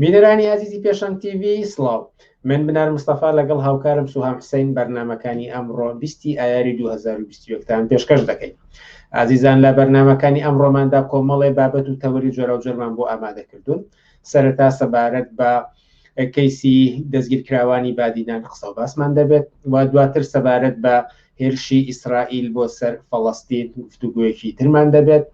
بینەرانی ئازیزی پێشەنگ تیV سڵاو من بنار مستەفا لەگەڵ هاوکارم سوهام حسین بەرنمەکانی ئەمڕۆ بیستی ئایاری 2020تان پێشکەش دەکەین ئازیزان لە بەرنمەکانی ئەمڕۆماندا کۆمەڵێ بابەت و تەوەری جۆراوجۆرمان بۆ ئامادە کردوون سەرەتا سەبارەت بە کەیسی دەستگیرکراوانی بادینان قسە و باسمان دەبێت و دواتر سەبارەت بە هێرشی ئیسرائیل بۆ سەر فەڵەستین گفتوگویەکی ترمان دەبێت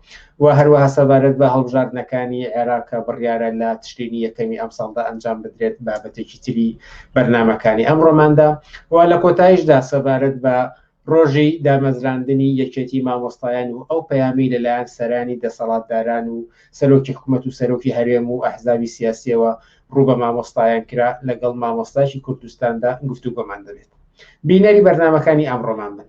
و هەروەها سەبارەت بە هەڵبژاردنەکانی عێراقە بڕیارە لە تشتینی یەکەمی ئەم ساڵدا ئەنجام بدرێت بابەتێکی تری بەرنمەکانی ئەمڕۆماندا و لە کۆتایشدا سەبارەت بە ڕۆژی دامەزراندنی یەکێتی مامۆستایان و ئەو پەیامی لەلایەن سەرانی دەسەڵاتداران و سەرۆکی حکومەت و سەرۆکی هەرێم و ئەحزابی سیاسیەوە ڕوو بە مامۆستایان کرا لەگەڵ مامۆستایکی کوردستاندا گفتوگۆمان دەبێت بینەری بەرنمەکانی ئەمڕۆمان بن.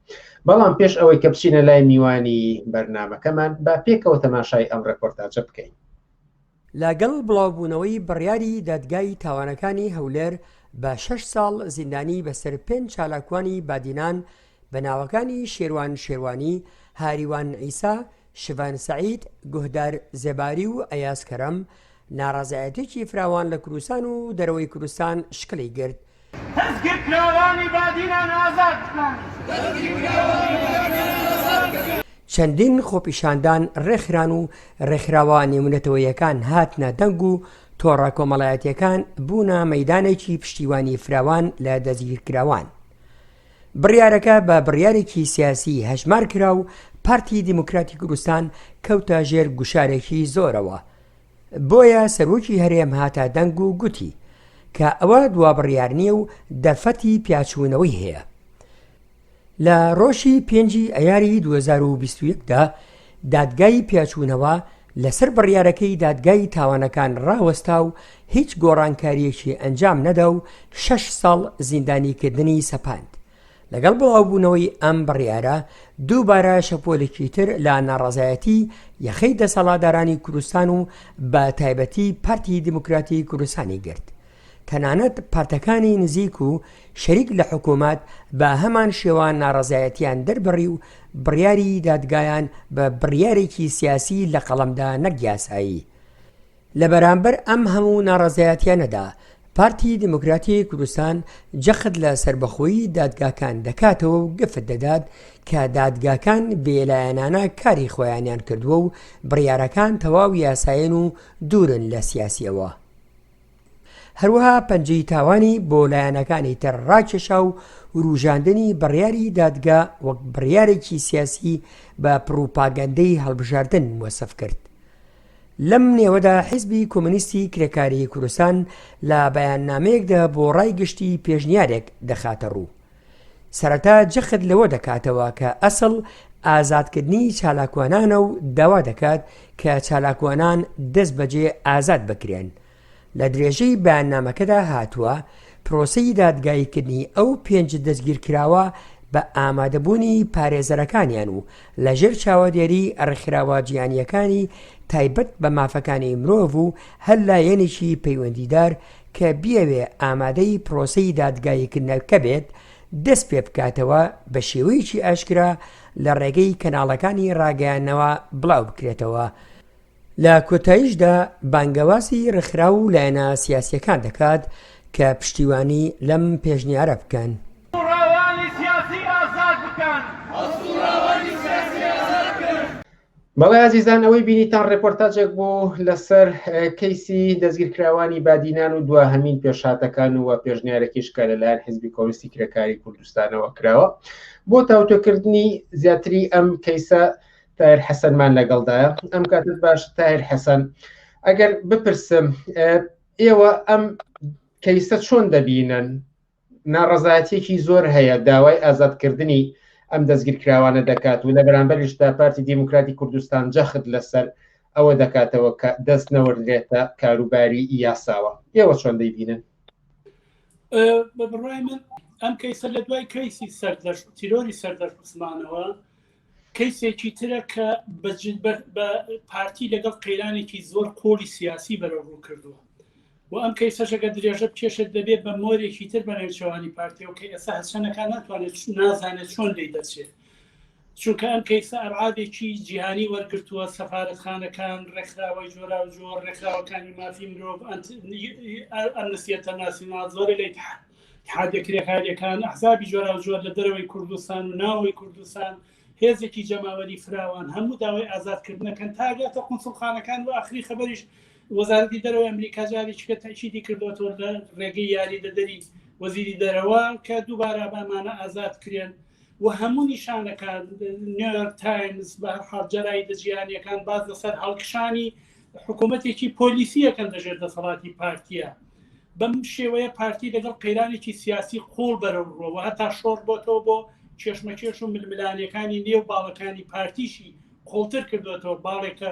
بەڵام پێش ئەوەی کە بچینە لای میوانی بەرنمەکەمان با پێکەوە تەماشای ئەم ڕێپۆرتاجە بکەین لەگەڵ بڵاوبوونەوەی بڕیاری دادگای تاوانەکانی هەولێر بە شەش ساڵ زیندانی بەسەر پێنج چالاکوانی بادینان بە ناوەکانی شێروان شێروانی هاریوان ئیسا، شڤان سەعید، گوهدار زێباری و ئەیاز کەرەم، ناڕەزایەتیەکی فراوان لە کوردستان و دەرەوەی کوردستان شکلی گرت. دەستگیرکراوانی بادینان ئازاد بکەن! چەندین خۆپیشاندان ڕێکخران و ڕێکخراوە نێونەتەوەیەکان هاتنە دەنگ و تۆڕە کۆمەڵایەتییەکان بوونە مەیدانێکی پشتیوانی فراوان لە دەستگیرکراوان. بڕیارەکە بە بڕیارێکی سیاسی هەژمار کرا و پارتی دیموکراتی کوردستان کەوتە ژێر گوشارێکی زۆرەوە، بۆیە سەرۆکی هەرێم هاتە دەنگ و گوتی، کە ئەوە دوا بڕیار نییە و دەرفەتی پیاچوونەوەی هەیە. لە ڕۆژی پێنجی ئەیاری دوو هەزار و بیست و یەک دا، دادگای پێچوونەوە لەسەر بڕیارەکەی دادگای تاوانەکان ڕاوەستا و هیچ گۆڕانکارییەکی ئەنجام نەدا و شەش ساڵ زیندانیکردنی سەپاند. لەگەڵ بڵاوبوونەوەی ئەم بڕیارە، دووبارە شەپۆلێکی تر لە ناڕەزایەتی یەخەی دەسەڵاتدارانی کوردستان و بە تایبەتی پارتی دیموکراتی کوردستانی گرت. تەنانەت پارتەکانی نزیک و شەریک لە حکومەت بە هەمان شێوە ناڕەزایەتیان دەربڕی و بڕیاری دادگایان بە بڕیارێکی سیاسی لە قەڵەمدا نەک یاسایی. لە بەرامبەر ئەم هەموو ناڕەزایەتیانەدا پارتی دیموکراتی کوردستان جەخت لە سەربەخۆیی دادگاکان دەکاتەوە و گفت دەدات کە دادگاکان بێلایەنانە کاری خۆیانیان کردووە و بڕیارەکان تەواو یاسایەن و دوورن لە سیاسیەوە. هەروەها پەنجەی تاوانی بۆ لایەنەکانی تر ڕاکێشا و وروژاندنی بڕیاری دادگا وەک بڕیارێکی سیاسی بە پڕوپاگەندەی هەڵبژاردن وەسف کرد لەم نێوەدا حیزبی کۆمەنیستی کرێکاری کوردستان لە بەیاننامەیەکدا بۆ ڕای گشتی پێشنیارێک دەخاتە ڕوو سەرەتا جەخت لەوە دەکاتەوە کە ئەسڵ ئازادکردنی چالاکوانانە و داوا دەکات کە چالاکوانان دەست بەجێ ئازاد بکرێن لە درێژەی بەیاننامەکەدا هاتووە پرۆسی دادگاییکردنی ئەو پێنج دەستگیرکراوە بە ئامادەبوونی پارێزەرەکانیان و لە ژێر چاوەدێری ڕێکخراوە جیانییەکانی تایبەت بە مافەکانی مرۆڤ و هەر لایەنێکی پەیوەندیدار کە بیەوێ ئامادەی پرۆسەی دادگاییکردنەکە بێت، دەست پێ بکاتەوە بە شێوەیەکی ئاشکرا لە ڕێگەی کەناڵەکانی ڕاگەیاندنەوە بڵاو بکرێتەوە. لە کۆتاییشدا بانگەوازی ڕێکخراو و لایەنە سیاسییەکان دەکات کە پشتیوانی لەم پێشنیارە بکەن. بەڵێ ئازیزان ئەوەی بینیتان ڕێپۆرتاجێک بوو لەسەر کەیسی دەستگیرکراوانی بادینان و دواهمین پێشاتەکان و پێشنیارەکیش کە لەلایەن حزبی کۆنستی کرێکاری کوردستانەوە کراوە بۆ تاوتۆکردنی زیاتری ئەم کەیسە تایر حەسەنمان لەگەڵدایە ئەم کاتت باش تایر حەسەن ئەگەر بپرسم ئێوە ئەم کەیسە چۆن دەبینن ناڕەزایەتیەکی زۆر هەیە داوای ئازادکردنی ئەم دەستگیرکراوانە دەکات و لە بەرامبەرشدا پارتی دیموکراتی کوردستان جەخت لەسەر ئەوە دەکاتەوە کە دەست نەوەردرێتە کاروباری یاساوە ئێوە چۆن دەیبینن بە بڕای من ئەم کەیسە لە دوای کەیسی سەردەشت تیرۆری سەردەشت عوسمانەوە کەیسێکی ترە کە بە پارتی لەگەڵ قەیرانێکی زۆر قۆڵی سیاسی بەرە ڕوو کردووە و ئەم کەی سەشەکە درێژە بکێشێت دەبێت بە مۆرێکی تر بە نێوچەوانی پارتیەوە کە ئێستا هەسەنەکان ناتوانێت نازانێت چۆن لی دەچێت چونکە ئەم کەیسە ئەرعادێکی جیهانی وەرگتووە سەفاەتخانەکان ڕێکخراوەی جۆرا و جۆر ڕێکخراوەکانی مافی مرۆڤ ئەمنسیەتە ناسینا زۆر لەیتحان اتحادیە کرێکاریەکان ئەحزابی جۆراوجۆر لە دەرەوەی کوردستان و ناوەوەی کوردستان هێزێکی جەماوەری فراوان هەموو داوای ئازادکردنەکەن تاگاتە قونسڵخانەکان و ئاخری خبریش وەزارەتی دەرەوە ئەمریکا جاری چکە تەشیدی کردوەوە لە ڕێگەی یاری دەدەری وەزیری دەرەوە کە دووبارە بامانە ئازاد کرێن و هەموو نیشانەکان نیویۆرک تایمز بە هەرحاڵ جەرای دەجییانەکان باز لەسەر هەڵکشانی حکوومەتێکی پۆلیسیەکەن دەژێت دەسەڵاتی پارتیە بەم شێوەیە پارتی لەگەڵ قەیرانێکی سیاسی قوڵ بەرەو ڕۆەوە هەتا شۆڕ بۆتەوە بۆ کێشمەکێش و ململانەکانی نێو باڵەکانی پارتیشی قوڵتر کردوێتەوە باڵێکە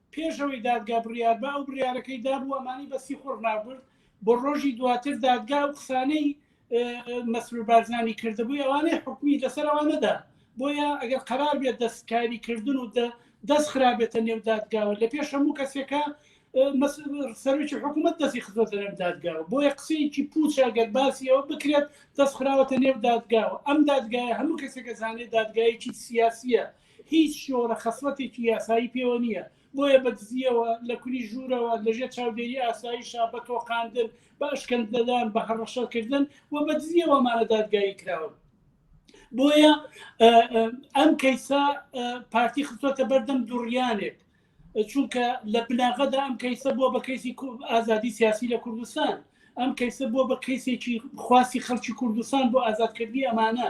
پێش ئەوەی دادگا بڕیاربا ئەو بڕارەکەی دابوو ئەمانی بە سیخۆڕ نابرد بۆ ڕۆژی دواتر دادگا و قسانەی مەسرور بارزانانی کردبووی ئەوانەی حکومی لەسەر ئەوانەدا بۆیە ئەگەر قرار بێت دەستکاری کردن و دەست خراپێتە نێو دادگاوە لە پێش هەموو کەسێکە سەرکی حکوومەت دەستی خزۆتە نێو دادگاوە بۆیە قسەیەکی پوچە گەر باسیەوە بکرێت دەست خراوەتە نێو دادگاوە ئەم دادگایە هەموو کەسێکە زانێت دادگایەکی سیاسیە هیچ شۆڕە خەسڵەتێکی یاسایی پێوە نییە، بۆیە بە دزییەوە، لە کونی ژوورەوە، لە ژێر چاودێری ئاسایشە، بە تۆقاندن، بە ئەشکەنجەدان، بە هەڕەشەکردن و بە دزییەوە ئەمانە دادگایی کراون. بۆیە ئەم کەیسە پارتی خستۆتە بەردەم دوڕیانێک چونکە لە بناغەدا ئەم کەیسە بۆ بە کەیسی ئازادی سیاسی لە کوردستان ئەم کەیسە بۆ بە کەیسێکی خواستی خەڵکی کوردستان بۆ ئازادکردنی ئەمانە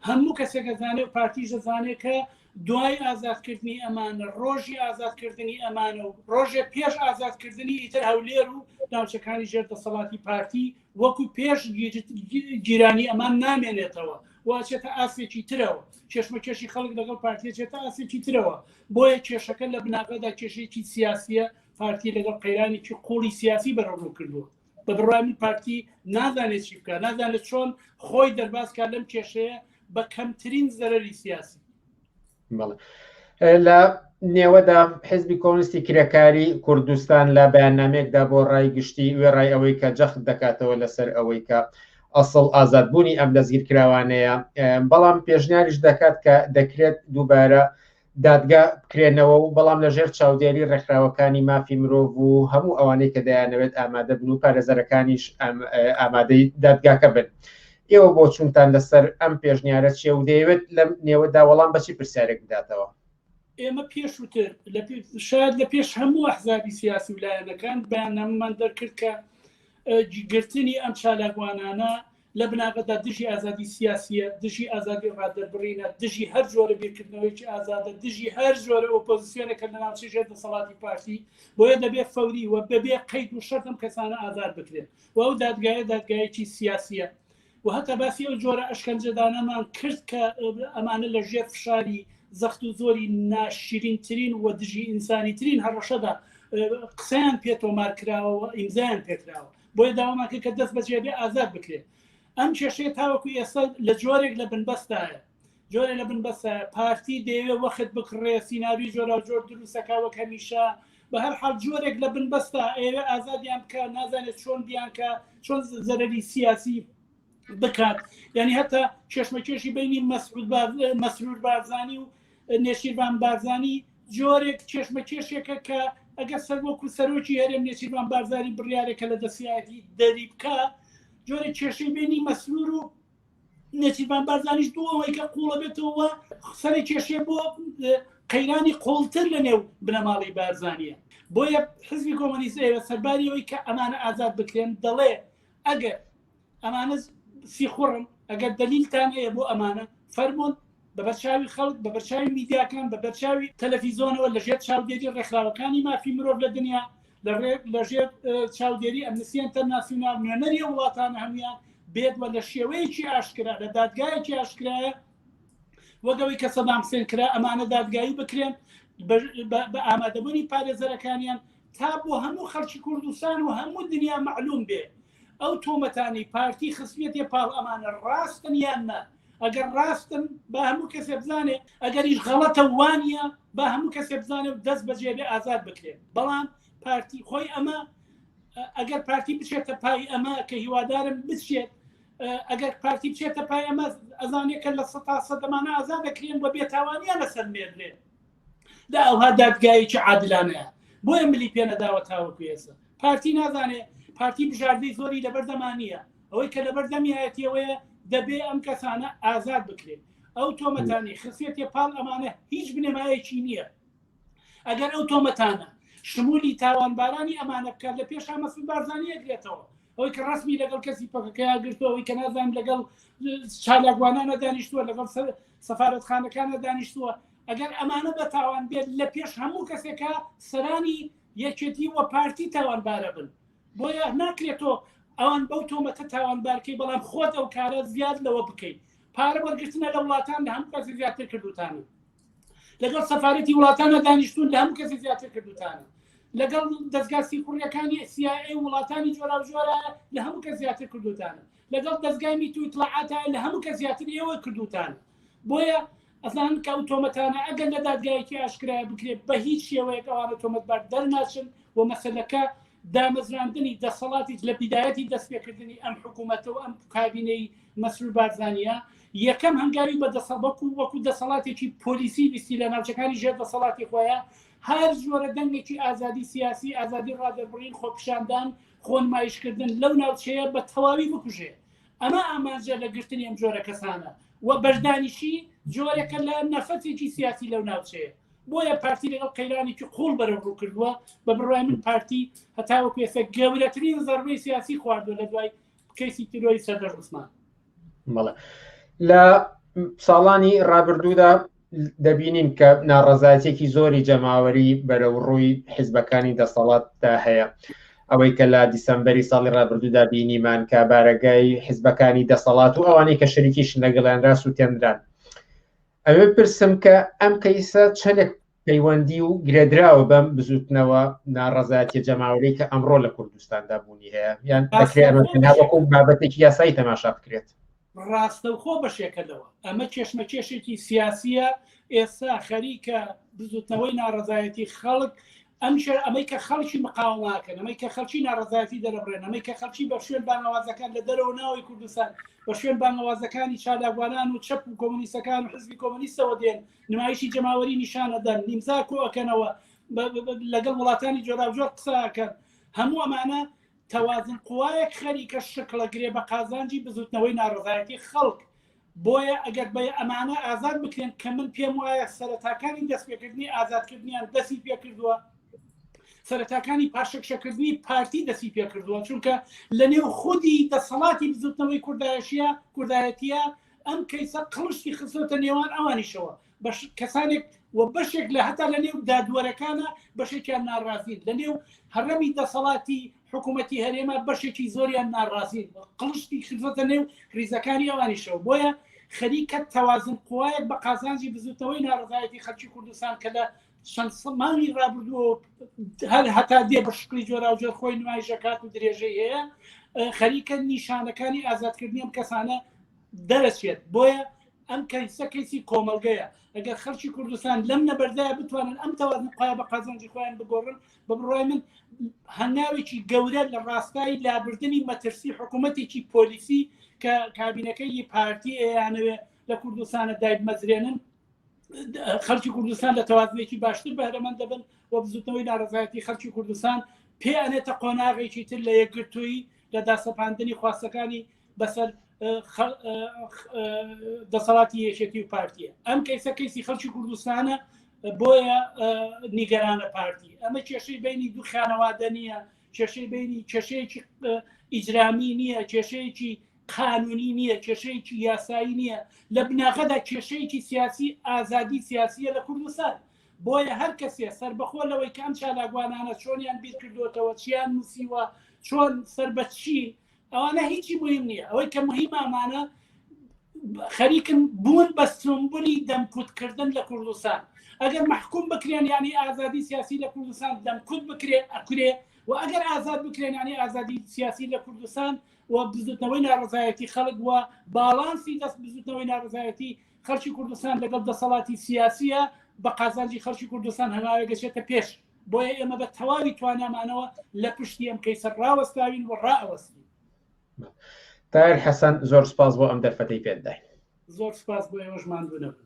هەموو کەسێکە زانێ و پارتیش دەزانێت کە دوای ئازادکردنی ئەمانە ڕۆژی ئازادکردنی ئەمانە و ڕۆژێ پێش ئازادکردنی ئیتر هەولێر و ناوچەکانی ژێر دەسەڵاتی پارتی وەکو پێش گیرانی ئەمان نامێنێتەوە واچێتە ئاسێکی ترەوە کێشمەکێشی خەڵک لەگەڵ پارتێچێتە ئاسێکی ترەوە بۆیە کێشەکە لە بناغەدا کێشێکی سیاسیە پارتی لەگەڵ قەیرانێکی قوڵی سیاسی بەرەڕوو کردووە بە بڕوانی پارتی نازانێت چی بکە نازانێت چۆن خۆی دەربازکە لەم کێشەیە بە کەمترین زەرری سیاسی لە نێوەدا حزبی کۆنستی کرێکاری کوردستان لە بەیاننامێکدا بۆ ڕای گشتی وێڕای ئەوەی کە جەخت دەکاتەوە لەسەر ئەوەی کە ئەسڵ ئازادبوونی ئەم دەستگیرکراوانەیە بەڵام پێشنیاریش دەکات کە دەکرێت دووبارە دادگا بکرێنەوە و بەڵام لە ژێر چاودێری ڕێکخراوەکانی مافی مرۆڤ و هەموو ئەوانەی کە دەیانەوێت ئامادە بن و پارێزەرەکانیش ئامادەی دادگاکە بن. ئێوە بۆ چونتان لەسەر ئەم پێشنیارە چێ و دەیەوێت لەم نێوەدا وەڵام بەچی پرسیارێک بداتەوە. ئێمە پێشوتر شاید لە پێش هەموو ئەحزابی سیاسی و لایەنەکان بەیاننامەمان دەرکرد کە گرتنی ئەم چالاکوانانە لە بناغەدا دژی ئازادی سیاسییە، دژی ئازادی ڕادەربڕینە، دژی هەر جۆرە بیرکردنەوەیەکی ئازادە، دژی هەر جۆرە ئۆپۆزسیۆنێکە لە ناوچەی ژێر دەسەڵاتی پارتی، بۆیە دەبێت فەوری و بەبێ قەید و شەرت ئەم کەسانە ئازاد بکرێن و ئەو دادگایە دادگایەکی سیاسییە و هەتا باسی ئەو جۆرە ئەشکەنجەدانەمان کرد کە ئەمانە لە ژێر فشاری زەخت و زۆری ناشرینترین و دژی ئینسانیترین هەڕەشەدا قسەیان پێ تۆمار کراوە و ئیمزایان پێکراوە بۆیە داوامان کرد کە دەست بەجێ بێ ئازاد بکرێت ئەم کێشەیە تاوەکو ئێستا لە جۆرێک لە بنبەستایە جۆرە لە بنبەستە پارتی دەیەوێ وەخت بکڕێ سینناوی جۆرا جۆر دروستەکەوە کەمیشە بە هەر حال جۆرێک لە بنبەستە ئێوە ئازادیان بکە نازانێت چۆن بیانکە چۆن زەرری سیاسی بکات یعنی هەتا کێشمەکێشی بینی مەسرود مەسرور بارزانانی و نێچیرڤان بارزانی جۆرێک کێشمەکێشێکە کە ئەگەر سەر وەکو سەرۆکی هەرێم نێچیرڤان بارزانی بڕیارێکە لە دەسیاتی دەری بکە جۆرە کێشەی بینی مەسرور و نێچیرڤان بارزانیش بۆ ئەوەی کە قوڵە بێتەوە سەری کێشێ بۆ قەیرانی قوڵتر لە نێو بنەماڵی بارزانە بۆیە حزبی کۆمەنیزەیە سەرباریەوەی کە ئەمانە ئازاد بکرێن دەڵێ ئەگەر ئەمانە سیخوڕن ئەگەر دەلیلتان هەیە بۆ ئەمانە فەرموون بە بەرچاوی خەڵک بە بەرچاوی میدیاکان بە بەرچاوی تەلەفیزۆنەوە لەژێر چاودێری ڕێکخراوەکانی مافی مرۆڤ لە دنیا لە ڕێک لەژێر چاودێری ئەمنسیەن تەرناسیونال نوێنەری وڵاتان هەموان بێت وە لە شێوەیەکی ئاشکرا لە دادگایەکی ئاشکرایە وەگەوەی کە سەدام سێن کرا ئەمانە دادگایی بکرێن بە ئامادەبوونی پارێزەرەکانیان تا بۆ هەموو خەڵکی کوردستان و هەموو دنیا معلوم بێ ئەو تۆمەتانەی پارتی خستویەتێ پاڵ ئەمانە ڕاستن یان نا ئەگەر ڕاستن با هەموو کەسێ بزانێ ئەگەریش غەڵەتە وانە با هەموو کەسێ بزانێ و دەست بەجێبێ ئازاد بکرێن بەڵام پارتی خۆی ئەمە ئەگەر پارتی بچێتە پای ئەمە کە هیوادارم بچێت ئەگەر پارتی بچێتە پای ئەمە ئەزانێکە لە سە تا سەدەمانە ئازا دەکرێن بە بێتاوانیان لەسەر مێردێن دا ئەوها دادگایەکی عادلانەیە بۆیە ملی پێنەداوە تاوەکو ئێستا پارتی نازانێ پارتی بژاردەی زۆری لەبەردەمانە ئەوەی کە لەبەر دەمیایەتیەوەیە دەبێ ئەم کەسانە ئازاد بکرێت ئەو تۆمەتانی خسیەتی پاڵ ئەمانە هیچ بنەمایەکی نییە ئەگەر ئەو تۆمەتانە شمولی تاوانبارانی ئەمانە بکات لە پێشا مەسود بارزانانی ئەگرێتەوە ئەوەی کە ڕسمی لەگەڵ کەسی پەکەکەیا گرتەوەی کە نازان لەگەڵ چالاکوانانە دانیشتووە لەگەڵ سەفاەتخانەکانە دانیشتووە ئەگەر ئەمانە بە تاوان بێت لە پێش هەموو کەسێکە سەرانی یەکێتی وە پارتی تاوانبارە بن بۆیە ناکرێتۆ ئەوان بەو تۆمەتە تاوانبارکەی بەڵام خۆت ئەو کارە زیاد لەوە بکەیت پارە وەرگرتنە لە وڵاتان لە هەموو کەسی زیاتر کردوتانە لەگەڵ سەفاەتی وڵاتانە دانیشتون لە هەموو کەسی زیاتر کردوتانە لەگەڵ دەستگا سیخوڕیەکانی سیای وڵاتانی جۆرا جۆرە لە هەموو کە زیاتر کردوتانە لەگەڵ دەستگای میتویتڵعاتە لە هەموو کە زیاتر ئێوە کردوتانە بۆیە ئەزانن کە ئەو تۆمەتانە ئەگەر لە دادگایەکی ئاشکرایە بکرێت بە هیچ شێوەیەک ئەوانە تۆمەتبار دەرناچن و مەسەلەکە دامەزراندنی دەسەڵاتی لە بیدایەتی دەستپێکردنی ئەم حکوومەتەوە ئەم کابینەی مەسرور بارزانانە یەکەم هەنگاوی بە دەسەڵبەکو وەکو دەسەڵاتێکی پۆلیسی ویستی لە ناوچەکانی ژێر دەسەڵاتی خۆیان هەر زۆرە دەنگێکی ئازادی سیاسی ئازادی ڕادەربڕین خۆپشاندان خۆنمایشکردن لەو ناوچەیە بە تەواوی بکوژێ ئەمە ئامانجە لە گرتنی ئەم جۆرە کەسانە و بەشدانیشی جۆرەکە لە نەفەتێکی سیاسی لەو ناوچەیە بۆیە پارتی لەگەڵ قەیرانێکی قوڵ بەرە ڕوو کردووە بە بڕای من پارتی هەتاوە پێسە گەورەترین زەربەی سیاسی خواردوە لە دوای کەسی تیرۆری سەردەر عوسمان بەڵێ لە ساڵانی ڕابردوودا دەبینین کە ناڕەزایەتێکی زۆری جەماوەری بەرەو ڕووی حیزبەکانی دەسەڵاتدا هەیە ئەوەی کە لە دیسمبری ساڵی ڕابردوودا بینیمان کە بارەگای حیزبەکانی دەسەڵات و ئەوانەی کە شەریکیش لەگەڵیان راس و تێنران ئەوێ پرسم کە ئەم کەیسە چەندێک پەیوەندی و گرێدراوە بەم بزوتنەوە ناڕزایەتی جەماوەری کە ئەمڕۆ لە کوردستاندا بوونی هەیە یان بابەتێکی یاسایی تەماشا بکرێت ڕاستەوخۆ بەشێکە لەوە ئەمە کێشمەکێشێکی سیاسیە ئێستا خەریکە بزوتنەوەی ناڕزایەتی خەڵک ئەم شەر ئەمەی کە خەڵکی مقاوماکەن ئەمەی کە خەڵکی ناڕزایەتی دەرەبرێن ئەمەی کە خەڵکی بە شوێن بانەوازەکان لە دەرەوە ناوەی کوردستان بە شوێن بانەوازەکانی چالاکوانان و چەپ و کۆمونیستەکان و حزبی کۆمونیستەوە دێن نمایشی جەماوەری نیشانەدەن نیمزا کۆەکەنەوە لەگەڵ وڵاتانی جۆراوجۆر قساکەن هەموو ئەمانە تەوازن قوایەک خەریکە شکڵەگرێ بە قازانجی بزوتنەوەی ناڕزایەتی خەڵک بۆیە ئەگەر بە ئەمانە ئازاد بکرێن کە من پێم وایە سەرەتاکانی دەستپێکردنی ئازادکردنیان دەستی پێکردووە سەرەتاکانی پاشەکشەکردنی پارتی دەستی پێکردووە چونکە لە نێو خودی دەسەڵاتی بزوتنەوەی کوردایشیە کوردایەتە ئەم کەیسە قڵشتی خستۆتە نێوان ئەوانیشەوە کەسانێک و بەشێک لە هەتا لە نێو دادوەرەکانە بەشێکیان ناڕازین لە نێو هەڕەمی دەسەڵاتی حکوومەتتی هەرێمە بەشێکی زۆریان ناڕازین قڵشتی خزمەتە نێو ریزەکانی ئەوانیشەوە بۆیە خەریکە تەوازن قوایەک بە قازانجی بزوتنەوەی ناڕزایەتی خەلکی کوردستان کە لە چەند سەمانی رابردووە هەر هەتا دێ بە شکلی جۆرا و جۆر خۆی نمایشەکات و درێژەی هەیە خەریکە نیشانەکانی ئازادکردنیم کەسانە دەرەچێت بۆیە ئەم کەیسە کەیسی کۆمەڵگەیە ئەگەر خەرکی کوردستان لەم نەبەردایە بتوانن ئەم تەوازن قای بە قازانجی خۆیان بگۆڕن بە بڕای من هەنگاوێکی گەورە لە ڕاستایی لابردننی مەترسی حکوومەتێکی پۆلیسی کە کابینەکەی پارتی ئەیانەوێ لە کوردستانە دایک مەزرێنن خەرکی کوردستان لە تەوازنێکی باشتر بەرەمەند دەبن و بزوتنەوەی ناڕزایەتی خەرکی کوردستان پێیانێتە قۆناغێکی تر لە یەکگرتووی لە داسەپاندنی خواستەکانی بەسەر دەسەڵاتی یەکێتی و پارتیە ئەم کەیسە کەیسی خەڵکی کوردستانە بۆیە نیگەرانە پارتی ئەمە کێشەی بینی دوو خانەوادە نییە کێشەی بینی کێشەیەکی ئیجرامی نییە کێشەیەکی قانونی نییە کێشەیەکی یاسایی نییە لە بناغەدا کێشەیەکی سیاسی ئازادی سیاسیە لە کوردستان بۆیە هەر کەسێ سربەخۆ لەوەی کام چالاگوانانە چۆنیان بیرکردوتەوە چیان نووسیوە چۆن سەر بەچی ئەوانە هیچی مهم نییە ئەوەی کە مهمە ئەمانە خەریکن بوون بە سمبولی دەمکوتکردن لە کوردستان ئەگەر محکوم بکرێن ینی ئازادی سیاسی لە کوردستان دەمکوت بکرێ ئەکرێ و ئەگەر ئازاد بکرێن ینی ئازادی سیاسی لە کوردستان و بزوتنەوەی ناڕزایەتی خەڵک وە باڵانسی دەست بزوتنەوەی ناڕزایەتی خەڵکی کوردستان لەگەڵ دەسەڵاتی سیاسیە بە قازانجی خەڵکی کوردستان هەناوێ گەشێتە پێش بۆیە ئێمە بە تەواوی توانامانەوە لە پشتی ئەم کەیسە ڕاوەستاوین و ڕائەوەستین تایر حەسەن زۆر سپاس بۆ ئەم دەرفەتەی پێدای زۆر سپاس بۆ ئێوەش ماندوو نەبن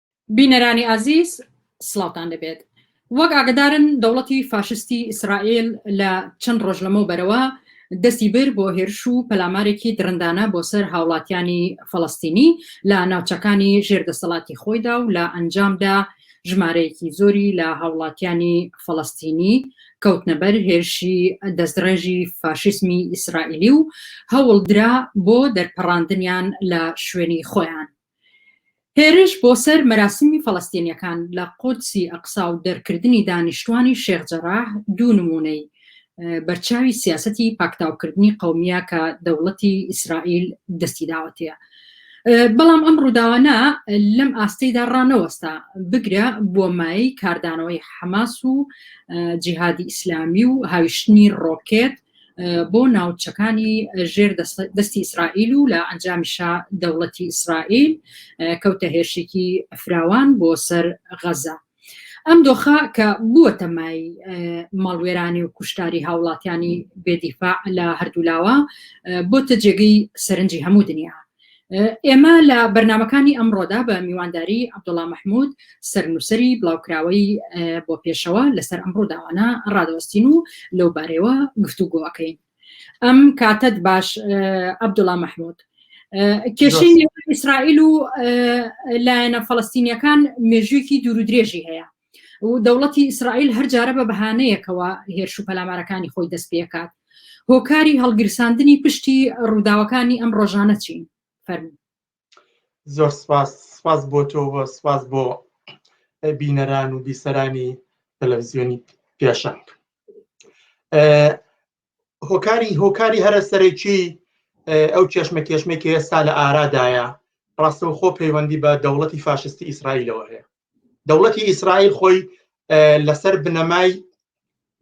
بینەرانی ئازیز سڵاوتان لەبێت. وەک ئاگدارن دەوڵەتی فاشستی ئیسرائیل لە چەند ڕۆژ لەمەو بەرەوە دەستی بر بۆ هێرش و پەلامارێکی درندانە بۆ سەر هاوڵاتیانی فەڵەستینی لە ناوچەکانی ژێر دەسەڵاتی خۆیدا و لە ئەنجامدا ژمارەیەکی زۆری لە هاوڵاتیانی فەڵەستینی کەوتنە بەر هێرشی دەستڕێژی فاشیسمی ئیسرائیلی و هەوڵدرا بۆ دەرپەڕاندنیان لە شوێنی خۆیان. هێرش بۆ سەر مەراسیمی فەڵەستینییەکان لە قودسی ئەقسا و دەرکردنی دانیشتووانی شێخ جەراح دوو نموونەی بەرچاوی سیاسەتی پاکتاوکردنی قەومییە کە دەوڵەتی ئیسرائیل دەستی داوەتەیە. بەڵام ئەم ڕووداوانە لەم ئاستەیدا ڕانەوەستا بگرە بۆ مای کاردانەوەی حەماس و جیهادی ئیسلامی و هاویشتنی ڕۆکێت بۆ ناوچەکانی ژێر دەستی ئیسرائیل و لە ئەنجامیشا دەوڵەتی ئیسرائیل کەوتە هێرشێکی فراوان بۆ سەر غەزە. ئەم دۆخە کە بووە تەمای ماڵوێرانی و کوشتاری هاوڵاتیانی بێدیفاع لە هەردوولاوە بۆتە جێگەی سەرنجی هەموو دنیا ئێمە لە بەرنامەکانی ئەمڕۆدا بە میوانداری عبدوڵا مححمود سەرنووسری بڵاوکراوەی بۆ پێشەوە لەسەر ئەمڕۆ داوانە ڕادەوەستین و لەو بارەوە گفتوگۆەکەین ئەم کاتت باش عبدوڵا مححمود کێشی ئیسرائیل و لایەنە فەڵستینیەکان مێژوویەکی دوور و درێژی هەیە و دەوڵەتی ئیسرائیل هەر جارە بە بەهانەیەکەوە هێرش و پەلامارەکانی خۆی دەست پێکات هۆکاری هەڵگیرساندنی پشتی ڕووداوەکانی ئەم ڕۆژانە چین فەرمو زۆر سپاس سپاس بۆ تۆ سپاس بۆ بینەران و بیسەرانی تەلەڤزیۆنی پێشنگ هۆکاری هۆکاری هەرە سەرەکی ئەو چێشمە کێشمێک ئێستا لە ئارادایە ڕاستەوخۆ پەیوەندی بە دەوڵەتی فاشستی ئیسرائیلەوە هەیە دەوڵەتی ئیسرائیل خۆی لەسەر بنەمای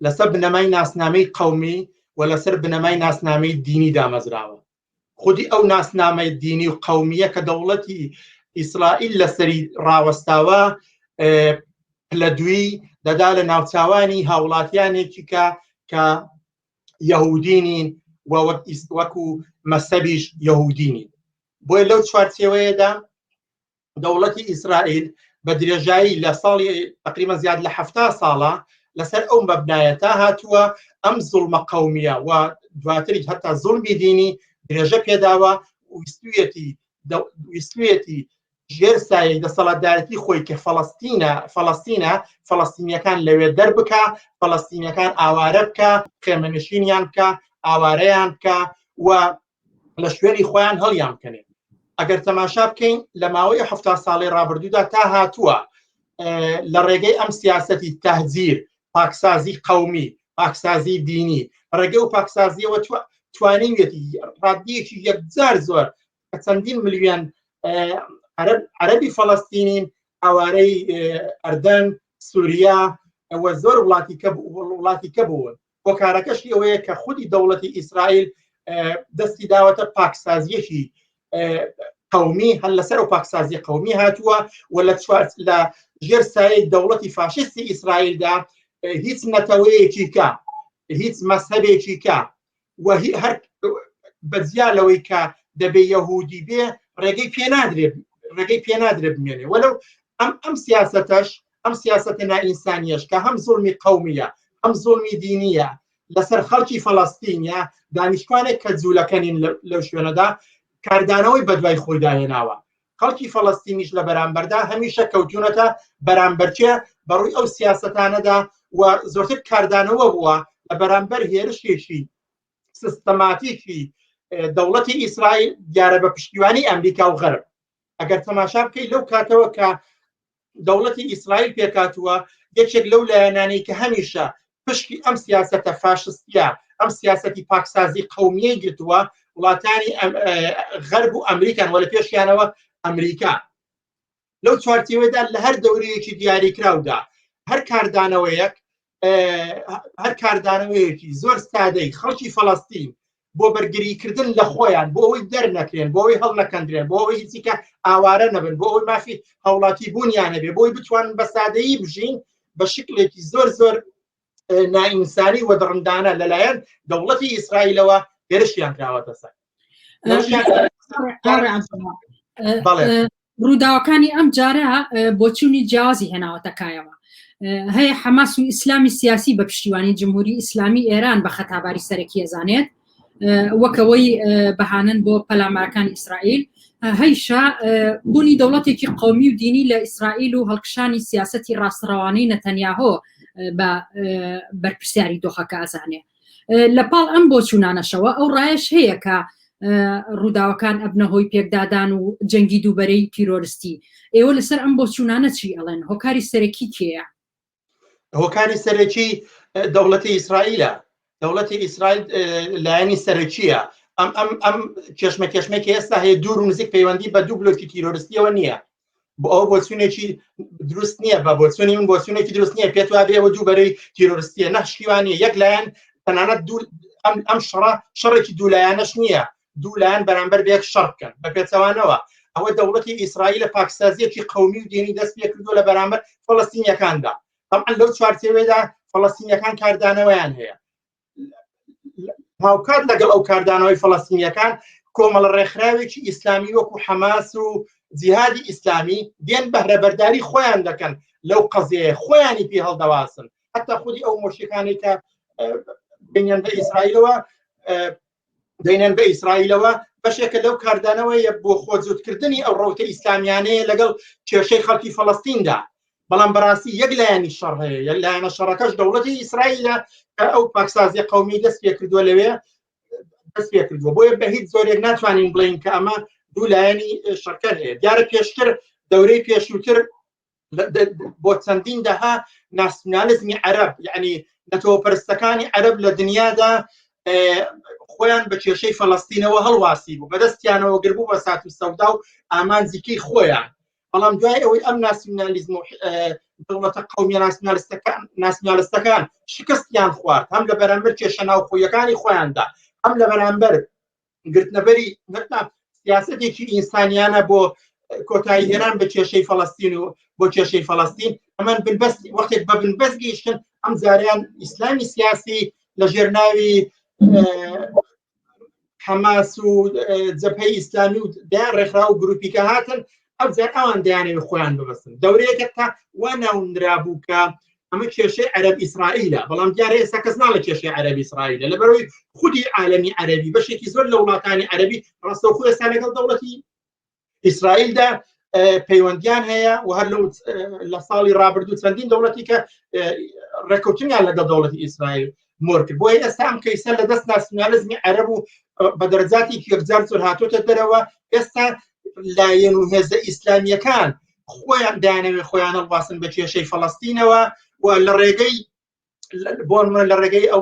لەسەر بنەمای ناسنامەی قومی و لەسەر بنەمای ناسنامەی دینی دامەزراوە خودی ئەو ناسنامەی دینی و قومیە کە دەوڵەتی ئیسرائیل لەسەری ڕاوەستاوە لە دوی دەدا لە ناوچوانی هاوڵاتیانێکی کە کە یهودینین و وەک ئیست وەکو مەسەبیش یهودینین بۆی لەو چوارچێوەیەدا دەوڵەتی ئیسرائیل بە درێژایی لە ساڵی تقریبا زیاد لە هەفتا ساڵە لەسەر ئەو مەبنایە تا هاتووە ئەم زڵمە قومیە و دواتریش هەتا زڵمی دینی درێژە پێداوە ویستویەتی ویستویەتی ژێر سایەی دەسەڵاتدارەتی خۆی کە فەڵستینە فەڵستینە فەڵستینیەکان لەوێ دەربکە فەڵستینەکان ئاوارە بکە خێمەنشینیان بکە ئاوارەیان بکە و لە شوێنی خۆیان هەڵیان بکەنێت ئەگەر تەماشا بکەین لە ماوەی ه ساڵی ڕابردوودا تا هاتووە لە ڕێگەی ئەم سیاستی تهزیر پاکسازی قومی پاکسازی دینی ڕێگە و پاکسازیەوە توانیویەتی ڕادیەکی یەکجار زۆر کە چەندین ملیۆن عەربی فەڵستینین ئەوارەی ئەردەن سووریا ئەوە زۆر وڵاتی کە وڵاتی کە بوون هۆکارەکەشی ئەوەیە کە خودی دەوڵەتی ئیسرائیل دەستی داوەتە پاکسازیەکی قومی هەر لەسەر و پاکسازی قومی هاتووە و لە چوارت لە ژێر سایەی دەوڵەتی فاشستی ئیسرائیلدا هیچ نەتەوەیەکی کە هیچ مەسهبێکی کە و هەر بەجیا لەوەی کە دەبێ یەهودی بێ ڕێگەی پێنادرێت ڕێگەی پێنادرێت بمێنێ وەلو ئەم ئەم سیاستەش ئەم سیاسەتە نائینسانیەش کە هەم زوڵمی قەومیە هەم زوڵمی دینیە لەسەر خەڵکی فەڵەستینە دانیشتوانێک کە جوولەکە نین لەو شوێنەدا کاردانەوەی بەدوای خۆیدا هێناوە خەڵکی فەڵەستینیش لە بەرامبەردا هەمیشە کەوتونەتە بەرامبەرچێ بەڕووی ئەو سیاستانەدا و زۆرتر کاردانەوە بووە لە بەرامبەر هێرشێکی سیستەماتیکی دەوڵەتی ئیسرائیل دیارە بە پشتیوانی ئەمریکا و غەرب ئەگەر تەماشا بکەیت لەو کاتەوە کە دەوڵەتی ئیسرائیل پێکاتووە یەکێک لەو لایەنانەی کە هەمیشە پشکی ئەم سیاستە فاشستە ئەم سیاستی پاکسازی قومیەی گرتووە وڵاتانی غەرب و ئەمریکان وە لە پێشیانەوە ئەمریکا لەو چوارچەوەدا لە هەر دەورەیەکی دیاریکراودا هەر کاردانەوەیەک هەر کاردانەوەیەکی زۆر سادەی خەڵکی فەڵستین بۆ بەرگریکردن لە خۆیان بۆ ئەوی دەرنەکرێن بۆی هەڵ نەکەندرێن بۆ ئەوی هیچیکە ئاوارە نەبن بۆ ئەوی مافی هەوڵاتی بوونیان هەبێ بۆی بتوان بە سادەیی بژین بە شکلێکی زۆر زۆر نائینسانی وە دڕندانە لەلایەن دەوڵەتی ئیسرائیلەوە هێرشیان کراوەتە سەر ڕووداوەکانی ئەم جارە بۆچوونی جیازی هێناوەتەکایەوە هەیە حەماس و ئیسلامی سیاسی بە پشتیوانی جمهوری ئیسلامی ئێران بە خەتاباری سەرەکی ئەزانێت وەکەوەی بەهانن بۆ پەلامارەکان ئیسرائیل هەیشا بوونی دەوڵەتێکی قومی و دینی لە ئیسرائیل و هەڵکشانی سیاستی ڕاستڕەوانەی نەتەنیاهۆ بە بەرپرسیاری دۆخەکە ئەزانێت لە پاڵ ئەم بۆچوونانەشەوە ئەو ڕایش هەیە کە ڕووداوەکان ئەبنە هۆی پێکدادان و جەنگی دووبەرەی تیرۆرستی ئێوە لەسەر ئەم بۆچوونانە چی ئەڵێن هۆکاری سەرەکی کێە هۆکاری سەرەکی دەوڵەتی ئیسرائیلە دەوڵەتی ئیسرائیل لایەنی سەرەکیە ئەم ئەم ئەم کێشمە کێشمێکی ئێستا هەیە دوور و نزیک پەیوەندی بە دوو بلۆکی تیرۆرستیەوە نییە بۆ ئەو بۆچونێکی دروست نییە بە بۆچونی من بۆچونێکی دروست نییە پێت وا بێەوە دوو بەرەی تیرۆرستیە نەخشیوانی یەک لایەن تەنانەت دوو ئەم ئەم شڕە شەڕێکی دوولایەنەش نییە دوولایەن بەرامبەر بێک شەڕ بکەن بە پێچەوانەوە ئەوە دەوڵەتی ئیسرائیل لە پاکسازیەکی قومی و دێنی دەست پێ کردو لە بەرامبەر فلستینیەکاندا طبعا لەو چوارچێوێدا فلستینیەکان کاردانەوەیان هەیە هاوکات لەگەڵ ئەو کاردانەوەی فەڵەستینیەکان کۆمەڵە ڕێکخراوێکی ئیسلامی وەکو حەماس و جیهادی ئیسلامی دێن بەهرەبەرداری خۆیان دەکەن لەو قەزەیە خۆیانی پێ هەڵدەواسن حتا خودی ئەو مۆشیەکانی کە بینیان بە ئیسرائیلەوە دەینەن بە ئیسرائیلەوە بەشێکە لەو کاردانەوەیە بۆ خۆجووتکردنی ئەو ڕوتە ئیسلامیانەیە لەگەڵ کێشەی خەڵکی فەڵستیندا بەڵام بەڕاستی یەک لایەنی شەڕ هەیە یەک لایەنە شەڕەکەش دەوڵەتی ئیسرائیلە کە ئەو پاکسازی قومی دەست پێ کردووە لەوێ دەست پێ کردووە بۆیە بە هیچ زۆرێک ناتوانین بڵین کە ئەمە دوو لایەنی شەکەر هەیە دیارە پێشتر دەورەی پێشووتر بۆ چەندین دەها ناسیونالیزمی عەرب یعنی نەتەوەپەرستەکانی عەرب لە دنیادا خۆیان بە کێشەی فەڵستینەوە هەڵواسی بوو بەدەستیانەوە گربوو بە سات و سەودا و ئامانجیکەی خۆیان بەڵام دوای ئەوەی ئەم ناسیونالیزم و دەوڵەتە قومیە ناسیونالستەکان ناسیونالستەکان شکستیان خوارد هەم لە بەرامبەر کێشە ناوخۆیەکانی خۆیاندا هەم لە بەرامبەر گرتنەبەری سیاستێکی ئینسانیانە بۆ کۆتایی هێران بە کێشەی فەڵستین و بۆ کێشەی فەڵستین ئەمەن بنبەست وەختێک بە بنبەست گەیشتن ئەم زاریان ئیسلامی سیاسی لە ژێر ناوی حەماس و جەپەی ئیسلامی و دایان ڕێکخرا و گروپیکە هاتن ئەوجار ئەوان دەیانەوێت خۆیان ببەستن دەورەیەکە تا وا ناونرابوو کە ئەمە کێشەی عەرب ئیسرائیلە بەڵام دیارە ئێستا کەس ناڵە کێشەی عەرب ئیسرائیلە لەبەرەوەی خودی عالەمی عەربی بەشێکی زۆر لە وڵاتانی عەربی ڕاستەوخۆ ئێستا لەگەڵ دەوڵەتی ئیسرائیلدا پەیوەندیان هەیە و هەر لەو لە ساڵی ڕابردوو چەندین دەوڵەتی کە ڕێکوتنیان لەگەڵ دەوڵەتی ئیسرائیل مۆر کرد بۆیە ئێستا ئەم کەیسە لە دەست ناسیونالیزمی عەرب و بە دەرەجاتی یەکجار زۆر هاتۆتە دەرەوە ئێستا لایەن و هێزە ئیسلامیەکان خۆیان دانەوێت خۆیان هەڵواسن بە کێشەی فەڵستینەوە و لە ڕێگەی بۆن من لە ڕێگەی ئەو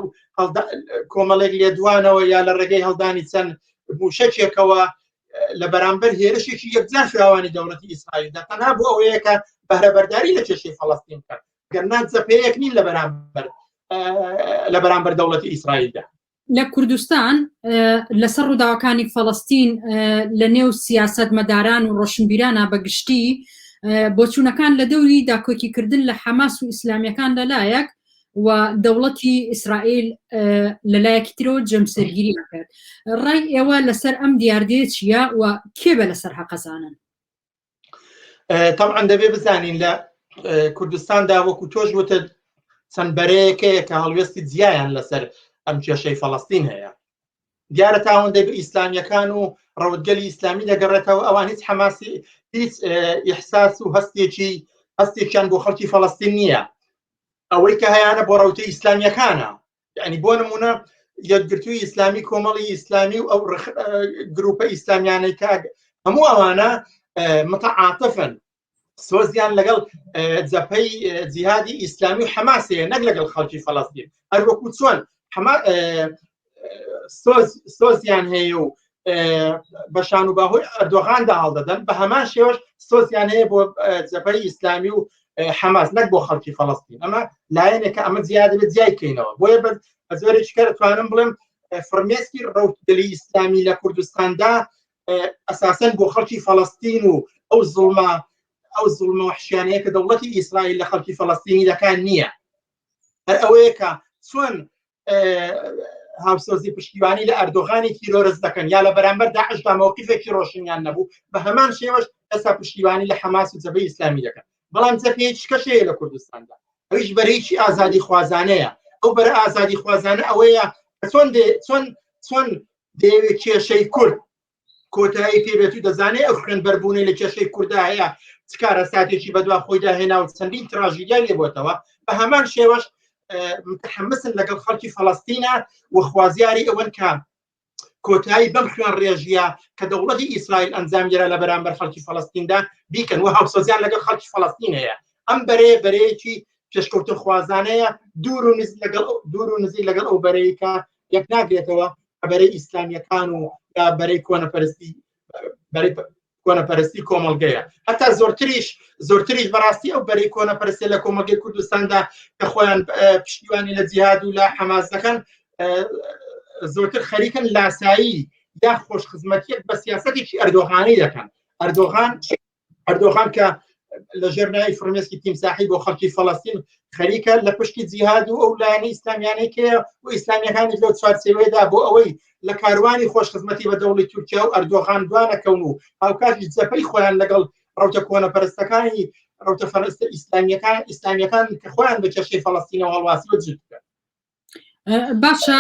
کۆمەڵێک لێدوانەوە یا لە ڕێگەی هەڵدانی چەند موشەکێکەوە لە بەرامبەر هێرشێکی یەکجار فراوانی دەوڵەتی ئیسرائیل دەتەنا بۆ ئەوەیەکە بەهرەبەرداری لە کێشەی فەڵستین بکەن گەرنا زەپەیەک نین لە بەرامبەر لە بەرامبەر دەوڵەتی ئیسرائیلدا لە کوردستان لەسەر ڕووداوەکانی فەڵستین لە نێو سیاست مەداران و ڕۆشنبیرانە بەگشتی بۆچوونەکان لە دەوری داکۆکیکردن لە حەماس و ئیسلامیەکان لەلایەک و دەوڵەتی ئیسرائیل لەلایەکی ترۆ جەمسەرگیری کرد ڕای ئێوە لەسەر ئەم دیاردێ چیە و کێ بە لەسەر هەقەزانن تەعاان دەبێ بزانین لە کوردستاندا وەکو تۆش وتە چەند بەرەیەکەیە کە هەڵوێستی جیایان لەسەر ئەم کێشەی فەڵستین هەیە دیارە تاوەندەی بە ئیسلامیەکان و ڕەوتگەلی ئیسلامی دەگەڕێتەوە ئەوان هیچ حەماسی هیچ ئیحساس و هەستێکی هەستێکیان بۆ خەڵکی فەڵستین نییە ئەوەی کە هەیەە بۆ ڕوتە ئیسلامیەکانە یعنی بۆ نمونە یەکگرتووی ئیسلامی کۆمەڵی ئیسلامی و ئەو گروپە ئیسلامیانەی کاگ هەموو ئەوانە متعاعاتەفن سۆزیان لەگەڵ جەپەی جیهادی ئیسلامی و حەماسەیە نەک لەگەڵ خەڵکی فەڵستین هەروەکو چۆن سۆزیان هەیە و بە شان و باهۆی ئەردۆغاندا هەڵدەدەن بە هەمان شێوەش سۆسیان هەیە بۆ جەپەی ئیسلامی و حەماس نەک بۆ خەڵکی فەڵستین ئەمە لایەنێکە ئەمە زیادە بە جیای کەینەوە بۆیە بە زۆرێکی کە توانم بڵێم فرمێسکی ڕوتدلی ئیسلامی لە کوردستاندا ئەساسەن بۆ خەڵکی فەڵستین و ئەو زڵما ئەو زڵمە وحشیانەیە کە دەوڵەتی ئیسرائیل لە خەڵکی فەڵستینی دەکان نییە هەر ئەوەیە کە چۆن هاوسۆزی پشتیوانی لە ئەردۆغانی تیرۆرس دەکەن یا لە بەرامبەر داعشدا مەوقیفێکی ڕۆشنیان نەبوو بە هەمان شێوەش ئەسا پشتیوانی لە حەماس و جەبەی ئیسلامی دەکەن بەڵام جەپێ شکەشەیە لە کوردستاندا ئەویش بەرەیکی ئازادی خوازانەیە ئەو بەرە ئازادی خوازانە ئەوەیە چۆن چۆن چۆن دەیەوێت کێشەی کورد کۆتایی پێبێت و دەزانێت ئەو خوێن بەربوونەی لە کێشەی کوردا هەیە چکارە ساتێکی بەدوا خۆیدا هێنا و چەندین تراژیدیا لێبتەوە بە هەمان شێوەش متحمسن لەگەڵ خەڵکی فەڵستینە و خوازیاری ئەوەن کە کۆتایی بەم خوێن ڕێژیە کە دەوڵەتی ئیسرائیل ئەنجامگیرا لە بەرامبەر خەڵکی فەڵستیندا بیکەن و هاوسەزیان لەگەڵ خەڵکی فەڵستین هەیە ئەم بەرێ بەرەیەکی پێشکەوتن خوازانەیە دوور و نزیک لەگەڵ دوور و نزیک لەگەڵ ئەو بەرەیکە یەک ناگرێتەوە کە بەرەی ئیسلامیەکان و یا بەرەی کۆنەپەرستی بەرەی کۆنەپەرستی کۆمەلگەیە هەتا زۆرتریش زۆرتریش بەڕاستی ئەو بەری کۆنەپەرستی لە کۆمەلگەی کوردستاندا کە خۆیان پشتیوانی لە جیهاد و لە حەماس دەکەن زۆرتر خەریکن لاسایی یا خۆش خزمەتیت بە سیاستێکی ئەردۆغانی دەکەن ئەردۆغان ئەردۆغان کە لە ژێر ناوی فرمێسکی تیمساحی بۆ خەڵکی فەڵستین خەریکە لە پشتی جیهاد و ئەو لایەنە ئیسلامیانەی کێ و ئیسلامیەکانی لەو چوارچێوەیەدا بۆ ئەوەی لە کاروانی خۆش خزمەتی بە دەوڵی تورکیا و ئەردۆغان دوانەکەون و هاوکاتی جەپەی خۆیان لەگەڵ ڕوتە کۆنە پەرستەکانی ڕوتە فەرستە ئیسلامیەکان ئیسلامیەکان کە خۆیان بە کێشەی فەڵستینەوە هەڵواسی وەجد بکەن باشە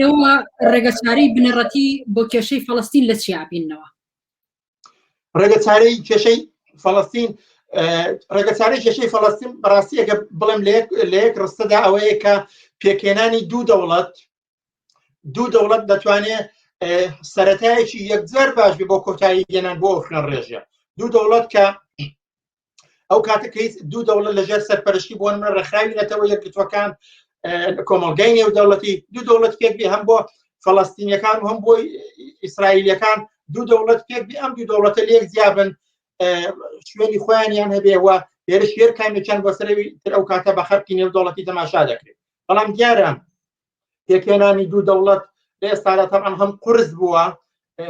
ئێوە ڕێگەچاری بنەڕەتی بۆ کێشەی فەڵستین لە چیابینەوە ڕێگە چارەی کێشەی فەڵستین ڕێگە چارەی کێشەی فەڵستین بەڕاستی ئەگە بڵێم لە یەک ڕستەدا ئەوەیە کە پێکێنانی دوو دەوڵەت دوو دەوڵەت دەتوانێت سەتایەکی یەکجار باش بۆ کۆتایی گەنان بۆ ئۆفران ڕێژە دوو دەوڵەت کە ئەو کاتە کە دوو دەوڵەت لەژێر سەرپەرشتی بۆن من ڕێکخراوی نەتەوە یەکگرتوەکان کۆمەلگای نێو دەوڵەتی دوو دەوڵەت پێک بێ هەم بۆ فەڵستینیەکان هەم بۆی ئیسرائیلەکان دوو دەوڵەت پێک بێ ئەم دوو دەوڵەتە لێک زیابن شوێنی خۆیانیان هەبێەوە لێرە شێر کامێکیان بۆ سەرەوی تر ئەو کاتە بە خەرکی نێو دەوڵەتی تەماشا دەکرێت بەڵام دیارە پێکهێنانی دوو دەوڵەت لە ئێستادا تەعام هەم قرس بووە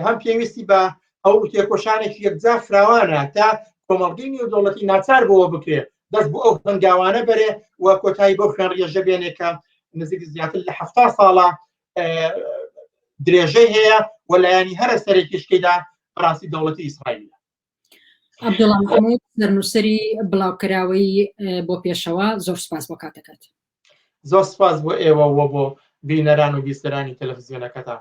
هەم پێویستی بە ئەو تێکۆشانێکی یەکجار فراوانە تا کۆمەڵگەی نێودەوڵەتی ناچار بۆەوە بکرێت دەست بۆ ئەو هەنگاوانە بەرێ و کۆتایی بۆ خوێن ڕێژە بێنێکە نزیک زیاتر لە ه ساڵە درێژەی هەیە و لایەنی هەرە سەرێکیشکەیدا ڕاستی دەوڵەتی ئیسرائیل عبدوڵڵا محمود سەرنووسەری بڵاوکراوەی بۆ پێشەوە زۆر سپاس بۆ کاتەکەت زۆر سپاس بۆ ئێوە وە بۆ بینەران و بیستەرانی تەلەڤزیۆنەکەتان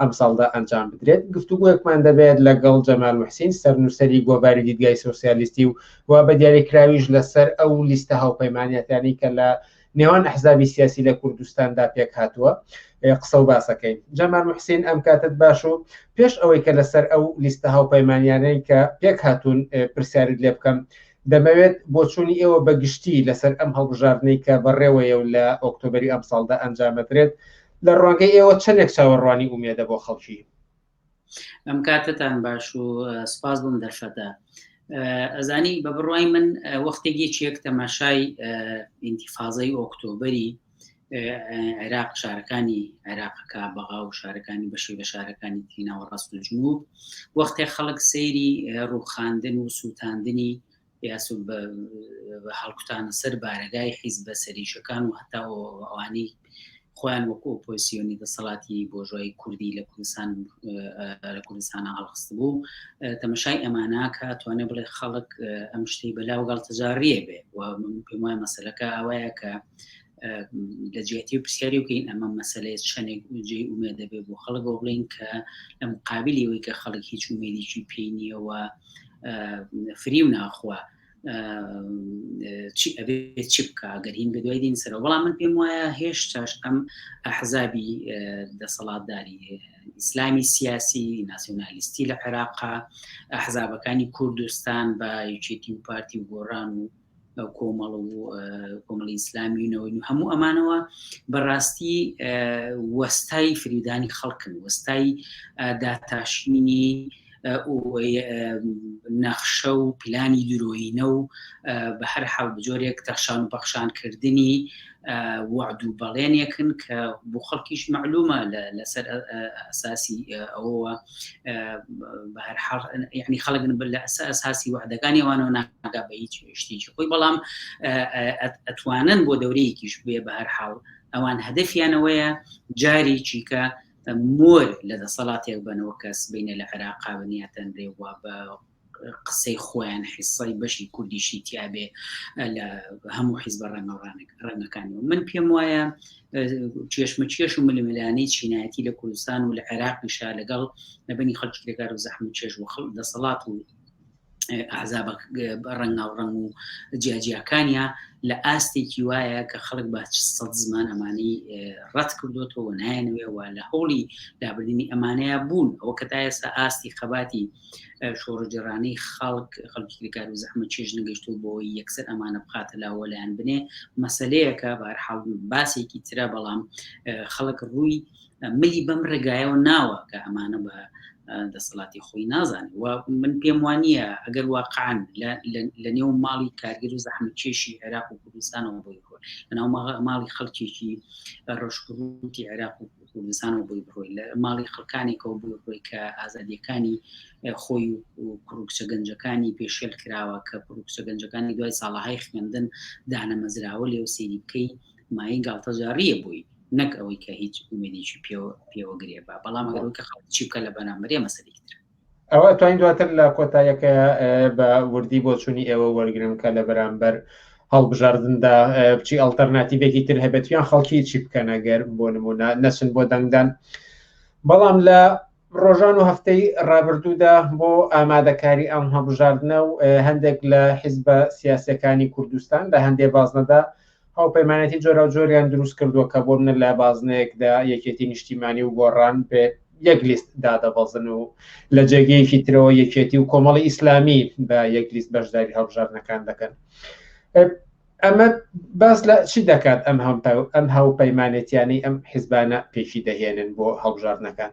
ئەمساڵدا ئەنجام بدرێت گفتوگویەکمان دەبێت لەگەڵ جەمال محسین سەرنووسری گۆڤاری دیدگای سوسیالیستی و و بە دیاریکراویش لەسەر ئەو لیستە هاوپەیمانەتانی کە لە نێوان ئەحزابی سیاسی لە کوردستاندا پێک هاتووە قسە و باسەکەین جەمان محسین ئەم کاتت باش و پێش ئەوەی کە لەسەر ئەو لیستە هاوپەیمانیانەی کە پێک هاتوون پرسیارت لێ بکەم دەمەوێت بۆچوونی ئێوە بە گشتی لەسەر ئەم هەڵبژاردنەی کە بەڕێوەیە و لە ئۆکتۆبەری ئەمساڵدا ئەنجامەدرێت لە ڕوانگەی ئێوە چەندێک چاوەڕوانی ئومێدە بۆ خەڵکی ئەم کاتتان باش و سپاس بووم دەرفەتە ئەزانی بە بڕوای من وەختێکی چێک تەماشای ئینتیفاازەی ئۆکتۆبری عێراق شارەکانی عێراقەکە بەغا و شارەکانی بەشی لە شارەکانی تیناوە ڕاست و جنوب وەختێ خەڵک سەیری ڕوخاندن و سووتاندنی یاسو هەڵکوتانە سەر بارەگای حیز بە سەریشەکان و هەتا ئەوانی خۆیان وەکو ئۆپۆسیۆنی دەسەڵاتی بۆژای کوردی لە کوردستان لە کوردستانە هەڵخست بوو تەمەشای ئەماناکە توانێ بڵێ خەڵک ئەم شتی بەلاو گەڵتەجاڕیە بێ و پێم وای مەسلەکە ئەوەیە کە لە جیاتی پرسیاری بکەین ئەمە مەسلەیە چەندێک جێی ئومێ دەبێت بۆ خەڵک بۆ بڵین کە لە مقابلی ئەوەی کە خەڵک هیچ ومێدیی پێینیەوە فری و ناخوا چی ئەبێ چی بکە گەر هین بە دوای دین سەرەوە بەڵام من پێم وایە هێشتاش ئەم حەزابی دەسەڵاتداری ئیسلامی سیاسی ناسیۆنالیستی لە عێراقا حەزابەکانی کوردستان بە یچێتی و پارتی و گۆڕان و کۆمەڵ و کۆمەڵی ئیسلامیونەوەی و هەموو ئەمانەوە بەڕاستی وەستای فریودانی خەڵکن وەستای داتاشینی نەخشە و پلانی درۆینە و بە هەر حاڵ بجۆرێک تەخشان و پەخشانکردنی وەعد و بەڵێنێکن کە بۆ خەڵکیش معلومە لەسەر ئەساسی ئەوەوە بە هەر حاڵ یعنی خەڵکن بل لە ئەسا ئەساسی وعدەکانی ئەوانەوە ناگا بە هیچ شتێکی خۆی بەڵام ئەتوانن بۆ دەورەیەکیش بێ بە هەر حاڵ ئەوان هەدەفیانەوەیە جاری چیکە مۆر لە دەسەڵاتێک بنەوە کەس بینە لە عێراقا بنیاتەن رێوا بە قسەی خۆیان حیسای بەشی کوردیشی تیاابێ لە هەموو حیزبە ڕەنگەڕانێک ڕەنگەکانەوە من پێم وایە چێشمە چێش و ململانەی چینایەتی لە کوردستان و لە عێراق پیشا لەگەڵ نەبنی خەڵکی لەگار و زەحمە چێژ و خەڵ دەسەڵات و ئازاب ڕەنگا و ڕەنگ و جیاجیاکانیا لە ئاستێکی وایە کە خەڵک بە سەد زمان ئەمانی ڕەت کردوێتەوە نایەنەوەوە لە هەوڵی دابردنی ئەمانەیە بوون ئەو کە تا ئێستا ئاستی خەباتی شۆڕگەرانی خەڵک خەڵکی کرێکار و زەحمە چێژ نەگەشت و بۆ یەکسەر ئەمانە بخاتە لاوە لایەن بنێ مەسلەیەکە بارحاڵ باسێکی ترە بەڵام خەڵک ڕووی ملی بەم ڕێگایەوە ناوە کە ئەمانە بە دەسەڵاتی خۆی نازانێت و من پێم وانە ئەگەر واقعان لە نێو ماڵی کارگر و زەحمە کێشی عێراق و کوردستانەوە بۆی خۆ لەناو ماڵی خەڵکێکی ڕۆژکوتی عێراق و کوردستانەوە بۆی بڕۆی لە ماڵی خەڵکانێکەوە بۆی ڕۆی کە ئازادیەکانی خۆی و کوڕکچە گەنجەکانی پێشێل کراوە کە کوڕکچە گەنجەکانی دوای ساڵەهای خوێندن دانەمەزراوە لێو سێری بکەی مای گاڵتەجاڕیە بووی نەک ئەوەی کە هیچ ئومێدیی پێوە پێوەگرێ بە بەڵام ئەگەرەوەی کە خەڵکی بکە لە بەرامبەرێ مەسەری تر ئەوە توانین دواتر لە کۆتایەکە بە وردی بۆچوونی ئێوە وەرگرم کە لە بەرامبەر هەڵبژاردندا بچی ئەلتەرناتیبێکی تر هەبێتیان خەڵکی چی بکەنەگەر بۆ نمونە نەچن بۆ دەنگدان بەڵام لە ڕۆژان و هەفتەی ڕابردوودا بۆ ئامادەکاری ئەم هەڵبژاردنە و هەندێک لە حیزبە سیاسەکانی کوردستان لە هەندێ بازنەدا هاوپەیمانێتی جۆراوجۆریان دروست کردووە کە بۆ منە لە بازنەیەکدا یەکێتی نیشتیمانی و گۆڕان بێ یەک لیست دادەبەزن و لە جێگەیەکی ترەوە یەکێتی و کۆمەڵی ئیسلامی بە یەک لیست بەشداری هەڵبژاردنەکان دەکەن ئەمە باس لە چی دەکات ئەم هەم ئەم هاوپەیمانێتیانەی ئەم حیزبانە پێکی دەهێنن بۆ هەڵبژاردنەکان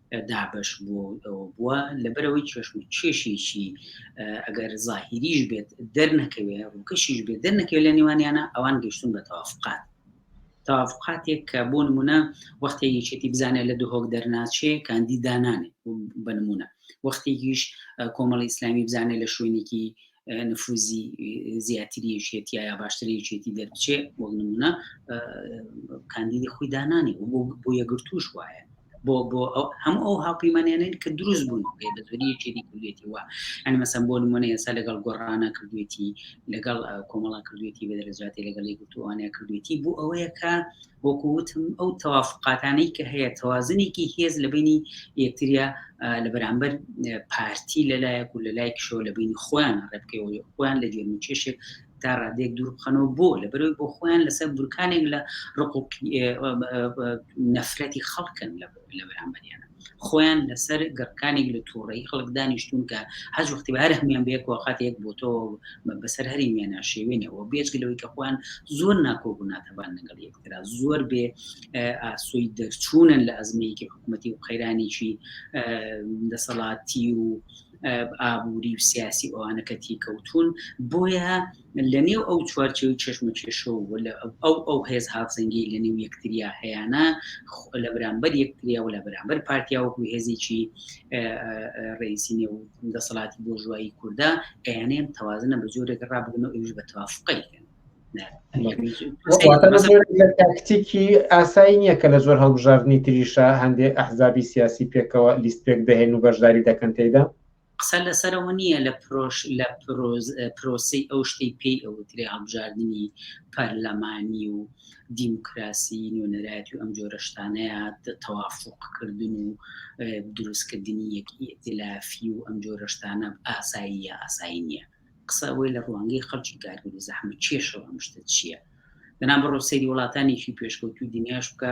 دابش بووە و ئەوە بووە لەبەرەوەی چێشم چێشێکی ئەگەر زاهیریش بێت دەرنەکەوێ ڕووکەشیش بێت دەرنەکەوێت لە نێوانیانە ئەوان گەشتون بە تەوافقات تاافقاتێک کە بۆ نمونە وەختێ یەکێتی بزانێت لە دهۆک دەرناچێ کاندیدانانێ بە نمونە وەختێکیش کۆمەڵی ئیسلامی بزانێت لە شوێنێکی نفوزی زیاتری یەکێتی یا باشتری یەکێتی دەرچێ بۆ نمونە کاندیدی خۆی دانانی بۆ یەگرتوش وایە بۆ بۆ هەموو ئەو هاوپەیمانیانن کە دروست بوون بێ بەزوری یەکێتی کردێتی وە ئەنی مەسەم بۆ نمونە ئێستا لەگەڵ گۆڕانە کردوێتی لەگەڵ کۆمەڵا کردوێتی بە دەرەجاتی لەگەڵی گرتوانە کردوێتی بۆ ئەوەیە کە وەکو وتم ئەو تەوافقاتانەی کە هەیە تەوازنێکی هێز لە بینی یەکتریا لە بەرامبەر پارتی لەلایەک و لەلایەک شۆ لە بینی خۆیان ڕێبکەوە خۆیان لە گەرم چێشێک تا ڕادێک دوور بخەنەوە بۆ لە بەرەوەی بۆ خۆیان لەسەر بورکانێک لە ڕق نەفرەتی خەڵکن لە بەرامبەریانە خۆیان لەسەر گڕکانێک لە تووڕەی خەڵک دانیشتون کە هەج وەختی بە هەر هەمیان بێک وقات یەک بۆتەوە بەسەر هەری مێنا شێوێنەوە بێچگە لەوەی کە خۆیان زۆر ناکۆک و ناتەبان لەگەڵ یەکترا زۆر بێ ئاسۆی دەرچوونن لە ئەزمەیەکی حکوومەتتی و قەیرانێکی دەسەڵاتی و ئابووری و سیاسی ئەوانەکەتی کەوتون بۆیە لەنێو ئەو چوارچێو و چەشمەکێشە و ئەو ئەو هێز هاوسەنگیەی لەنێو یەکتریا هەیانە لە بەرامبەر یەکتریا و لە بەرامبەر پارتیا وەکو هێزێکی ڕئیسی نێو دەسەڵاتی بۆژوایی کووردا ئەیانەیەم تەوازنە بە جۆرێک ڕابگرن و ئەوش بە توافقی کەن تاکتیکی ئاسایی نییە کە لە زۆر هەڵبژاردننی تریشە هەندێک ئەحزابی سیاسی پێکەوە لیست پێک دەهێن و بەشداری دەکەن تێدا قسە لەسەرەوە نییە لە پرۆش لە پرۆسەی ئەو شتەی پێی ئەوترێ هەڵبژاردننی پەرلەمانی و دیموکراسی نوێنەرایەتی و ئەم جۆرەشتانەیە تەوافقکردن و دروستکردنی یەکی ئتلافی و ئەم جۆرەشتانە ئاساییە ئاسایی نییە قسە ئەوەی لە ڕوانگەی خەڵکی کارگەری زەحمە کێشەوە ئەمشتە چییە بەنا بڕۆ سەیری وڵاتانێکی پێشکەوتوی دنیاش بکە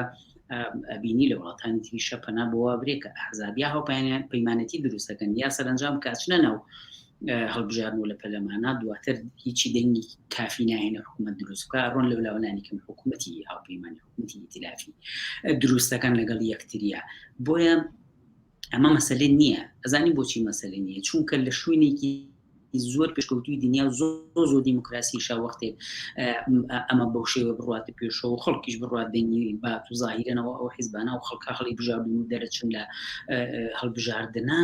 ئەبینی لە وڵاتانی تریشە پەنا بۆوا برێکە ئەحزابیا هەوپیانیان پەیمانەتی دروستەکەن یا سەرنجام کاچنە ناو هەڵبژارن و لە پەلەمانە دواتر هیچی دەنگی کافی نایەنە حکوومەت دروست بکە ڕۆن لە ولاوەلانی کەم حکوومەتی هاوپەیمانی حکوومەتی ئیتلافی دروستەکان لەگەڵ یەکتریە بۆیە ئەمە مەسلێ نییە ئەزانی بۆچی مەسلێ نییە چونکە لە شوێنێکی زۆر پێشکەوتوی دنیا زۆر زۆر دیموکراسی شاوەختێک ئەمە بەو شێوە بڕاتە پێشەوە خەڵکیش بڕات دەنگی بات و زاهیرەنەوە ئەو حیزبانە و خەڵکە خەڵی بژاردن و دەرەچن لە هەڵبژاردنە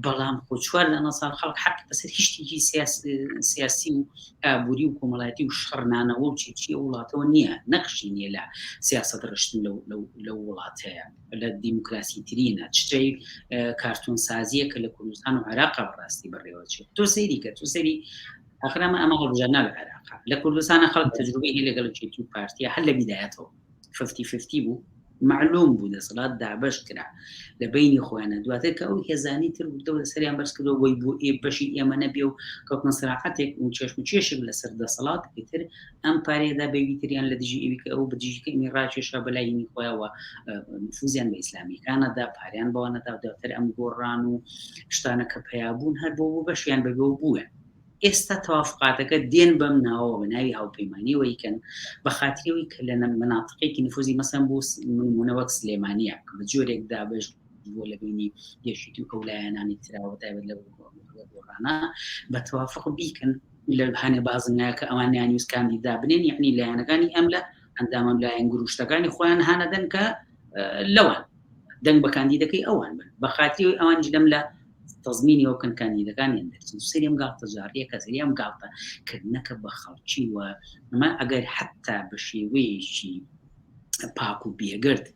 بەڵام خۆ چوار لەە ساڵ خەڵک حق بەسەر هیشتێکی سیاسی و ئابووری و کۆمەڵایەتی و شەڕنانەوە و چیچیە وڵاتەوە نییە نەخشی نیە لە سیاست ڕشتن لە وڵاتەیە لە دیموکراسی ترینە چتەی کارتون سازیە کە لە کوردستان و عراق ڕاستی بەڕێوە چێت تۆ سەیری کە تو سەری ئەخرامە ئەمە هەڵبژەرنا لە عراق لە کوردستانە خەڵک تەجروبەی لەگەڵ چێتی و پارتیە هەر لە بیدایەتەوە ففتی ففتی بوو معلوم بوو دەسەڵات دابش کرا لە بینی خۆیانە دواتر کە ئەو هێزانی تر بودەوە لە سەریان بەرز کردەوە بۆی بۆ ئێ بەشی ئێمە نەبێ و کەوتنە سراحەتێک و چێشم و چێشێک لەسەر دەسەڵات پێتر ئەم پارەیە دا بەوی تریان لە دژی ئەوی کە ئەو بە دژی کەمی ڕاکێشا بە لای هینی خۆیانەوە نفوزیان بە ئیسلامیەکانە دا پاریان بەوە نەدا دواتر ئەم گۆڕان و شتانە کە پیابوون هەر بۆ بۆ بەشیان بەبێ بووە ئێستا تەوافقاتەکە دێن بەم ناوەوە بە ناوی هاوپەیمانیەوە یکەن بە خاتریەوەی کە لە مناتقێکی نفوزی مەسەن بۆ منمونەوەک سلێمانە کە بە جۆرێک دابش بۆ لە بینی یەشیت و ئەو لایەنانی تراوە تایبەت لە گۆڕانە بە توافق بیکەن لە هەنێ بازنەیە کە ئەوان نیانویست کاندیدا بنێن یعنی لە یانەکانی ئەم لە ئەندامم لایەن گروشتەکانی خۆیان هانەدەن کە لەوان دەنگ بە کاندیدەکەی ئەوان بن بە خاتری ئەوان جلم لە تەزمینی ئەو کن کاندیدەکانیان دەرچن سریم گاڵتە جاڕیە کە سریم گاڵتە کردنەکە بە خەڵکی وە ئەمە ئەگەر حتا بە شێوەیەکی پاک و بێگرد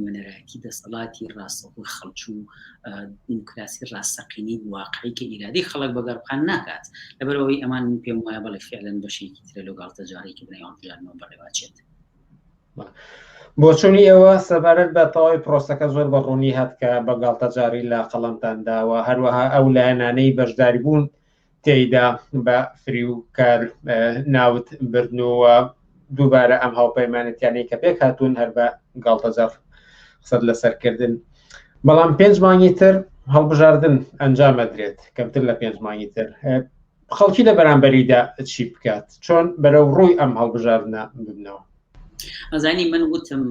نوێنەرایەتی دەسەڵاتی ڕاستەخۆ خەڵچوو و دیموکراسی ڕاستەقینی واقعی کە ئیرادی خەڵک بەگەڕقان ناکات لەبەرەوەی ئەمان من پێم وایە بەڵێ فعلەن بەشێکی ترە لەو گاڵتەجارێکی بنای هەڵبژاردنەوە بەڕێواچێت بۆچوونی ئێوە سەبارەت بە تەواوی پرۆسەکە زۆر بە ڕوونی هەتکە بە گاڵتەجاری لە قەڵمتانداوە هەروەها ئەو لایەنانەی بەشداری بوون تێیدا بە فریوکار ناوت بردنەوە دووبارە ئەم هاوپەیمانەتیانەی کە پێک هاتوون هەر بە گاڵتەزەف قسەت لەسەرکردن بەڵام پێنج مانگی تر هەڵبژاردن ئەنجام ئەدرێت کەمتر لە پێنج مانگی تر خەڵکی لە بەرامبەریدا چی بکات چۆن بەرەو ڕووی ئەم هەڵبژاردنە ببنەوە ئەزانی من وتم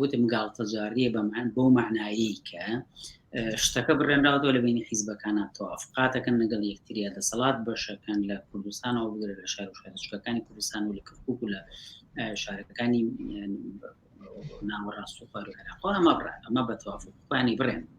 وتم گاڵتەجاڕیە بەمان بۆ معنایی کە شتەکە بڕێنراوەوە لە بینی حیزبەکانە تۆف قاتەکەن لەگەڵ یەکتریا دەسەڵات بەشەکەن لە کوردستانەوە بگرە لە شار و شارچکەکانی کوردستان و لە کەکوک و لە شارەکانی ناوەڕاست و خوار و عێراق ئەمە بڕێن ئەمە بە توافقانی بڕێن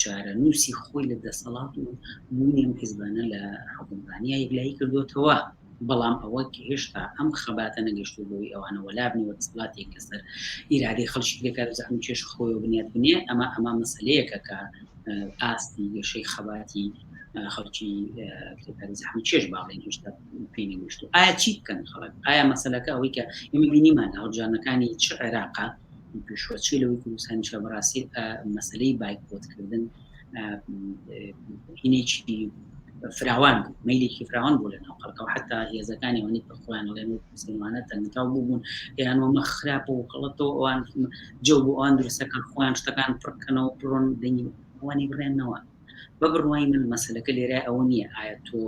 چارەنووسی خۆی لە دەسەڵات و بوونیم حزبانە لە حکومڕانیا یەکلایی کردوتەوە بەڵام ئەوە هێشتا ئەم خەباتە نەگەشتو بەوەی ئەوانە وەلابنەوە دەسڵاتێک لەسەر ئیرادەی خەڵکی دەکات و زەحم کێش خۆی بنیات بنێ ئەمە ئەمە مەسلەیەکە کە ئاستی گەشەی خەباتی خەڵکی کرێکاری زەحم چێش باڵێن هێشتا پێی نەگەشتو ئایا چی بکەن خەڵک ئایا مەسلەکە ئەوەی کە ئێمە بینیمان هەڵبژانەکانی چ عێراقا پیشوەچی لەوەی کوردستانی شە بەڕاستی مەسلەی بایکۆت کردن هینێکی فراوان میلێکی فراوان بوو لە ناو خەڵکەوە حتا هێزەکانی ئەوەی کە خۆیان ڵێن و مسلمانە تەنتاو بووبوون یان ومە خراپ و خەڵەتەوە ئەوان جە بۆ ئەوان درسەکان خۆیان شتەکان پڕکەنەوە پرۆن دەنگی ئەوانی بڕێنەوە بە بڕوای من مەسلەکە لێرای ئەوە نییە ئایا تۆ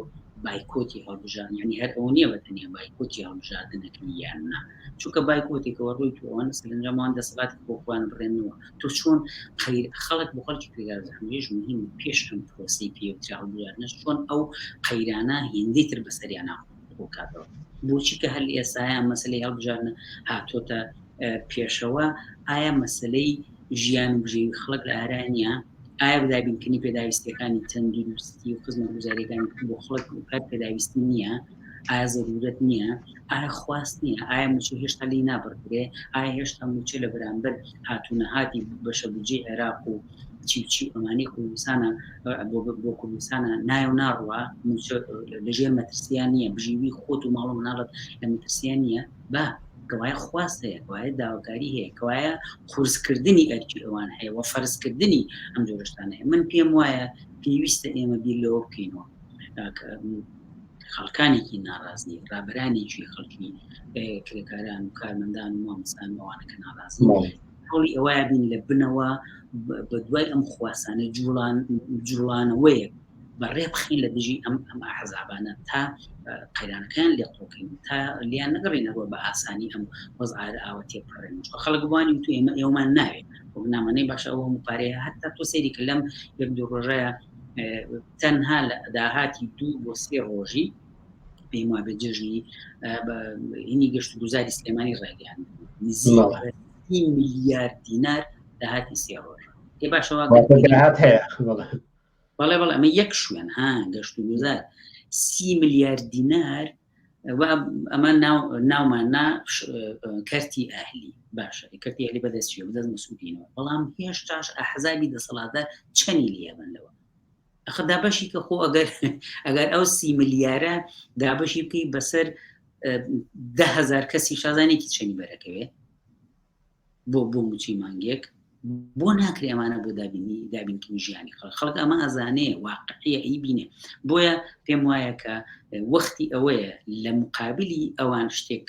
بایکۆتی هەڵبژان یعنی هەر ئەو نییە بەتەنیا بایکۆتی هەڵبژاردنەکەی یان نا چونکە بایکۆتێکەوە ڕووی تووان سەرنجەمان دەسەڵات بۆ خۆیان بڕێنەوە تۆ چۆن قەیر خەڵک بۆ خەڵکی پێداژمێژ مهم پێش ئەم پرۆسی پێوترا هەڵبژاردنەش چۆن ئەو قەیرانە هێندەی تر بەسەریان ناخۆ ڕووکاتەوە بۆچی کە هەل ئێساە مەسلەی هەڵبژارنە هاتۆتە پێشەوە ئایا مەسلەی ژیان و بژێوی خەڵک لە ئارانە ئایا بدابینکردنی پێداویستەکانی تەندروستی و خزمە گوزاریەکان بۆ خڵک و کار پێداویست نییە ئایا زەرورەت نییە ئایا خواست نییە ئایا موچە هێشتا لی نابڕدرێ ئایا هێشتا موچە لە بەرامبەر هاتوونەهاتی بەشە بجێ عێراق و چی چی ئەمانی کوردستانە بۆ کوردستانە نایە و ناڕوە لەژێر مەترسیان نییە بژیوی خۆت و ماڵم ناڵت لە مەترسیان نییە با کەوایە خواست هەیە کەوایە داواکاری هەیە کەوایە قورسکردنی ئەرکی ئەوان هەیە و فەرزکردنی ئەم جۆرشتان هەیە من پێم وایە پێویستە ئێمە بیر لەوە بکەینەوە خەڵکانێکی ناڕازی ڕابرانێکی خەڵکی کرێکاران و کارمەندان و مامسان ئەوانەکە ناڕازی هەوڵی ئەوەیە بین لە بنەوە بە دوای ئەم خواسانە جوڵان جوڵانەوەیە بە ڕێ بخین لە دژی ئەم ئەم حەزابانە تا قەیرانەکان لێ قۆکەین تا لیان نەگەڕینەوە بە ئاسانی ئەم وەزعار ئاوە تێپڕێن خەڵک بوانی تو ئێمە ئێومان ناوێت نامەنەی باشە ئەوە مپارەیە هەتا تۆ سەیری کە لەم یەک دوو ڕۆژەیە تەنها لە داهاتی دوو بۆ سێ ڕۆژی پێم وابێت جێژنی هینی گەشت گوزاری سلێمانی ڕێگەیان نزی میلیارد دینار داهاتی سێ ڕۆژ ێ باشەوە بەڵێ بەڵێ ئەمە یەک شوێن ها گەشت و گوزار سی میلیارد دینار ئەمە ناومان نا کەرتی ئاهلی باشە کەرتی ئەلی بەدەستیە بدەست مسودینەوە بەڵام هێشتاش ئەحزابی دەسەڵاتە چەنی لێبن لەوە ئەخە دابەشی کە خۆ ئەگەر ئەگەر ئەو سی ملیارە دابەشی بکەی بەسەر دههزار کەسی شازانێکی چەنی بەرەکەوێ بۆ بۆ موچی مانگێک بۆ ناکرێ ئەمانە بۆ دابینی دابینکردنی ژیانی خەڵ خەڵک ئەمە ئەزانەیە واقعە ئی بینێ بۆیە پێم وایە کە وەختی ئەوەیە لە مقابلی ئەوان شتێک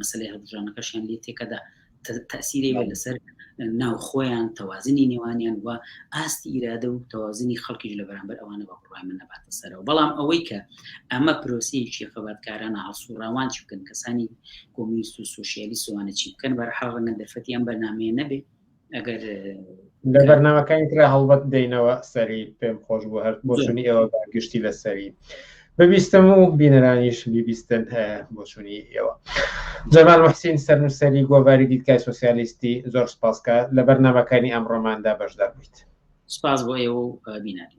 مەسلەی هەڵبژانەکەشیان لێ تێکەدا تەسیری وێ لەسەر ناو خۆیان تەوازنی نێوانیان و ئاستی ئیرادە و تەوازنی خەڵکیش لە بەرامبەر ئەوانە بە بڕای من نەباتە سەرەوە بەڵام ئەوەی کە ئەمە پرۆسیەکی خەباتکارانە هەڵسوڕاوان چ بکەن کەسانی کۆمیست و سوسیالی سوانە چی بکەن بەرحاڵ ڕەنگە دەرفەتیان بەرنمەیە نەبێت ئەگەر لە بەرنمەکانی تررا هەڵبەت دەینەوە سەری پێم خۆش بۆ هەر بۆچونی ئێوە گشتی لە سەری ببیستم و بینەرانیش بیبیستن بۆچونی ئێوە جەمال محسین سەرنووسری گۆڤاری دیدکای سوسیالیستی زۆر سپاسکە لە بەرنمەکانی ئەمڕۆماندا بەشدار بوویت سپاس بۆ ئێوە بینەری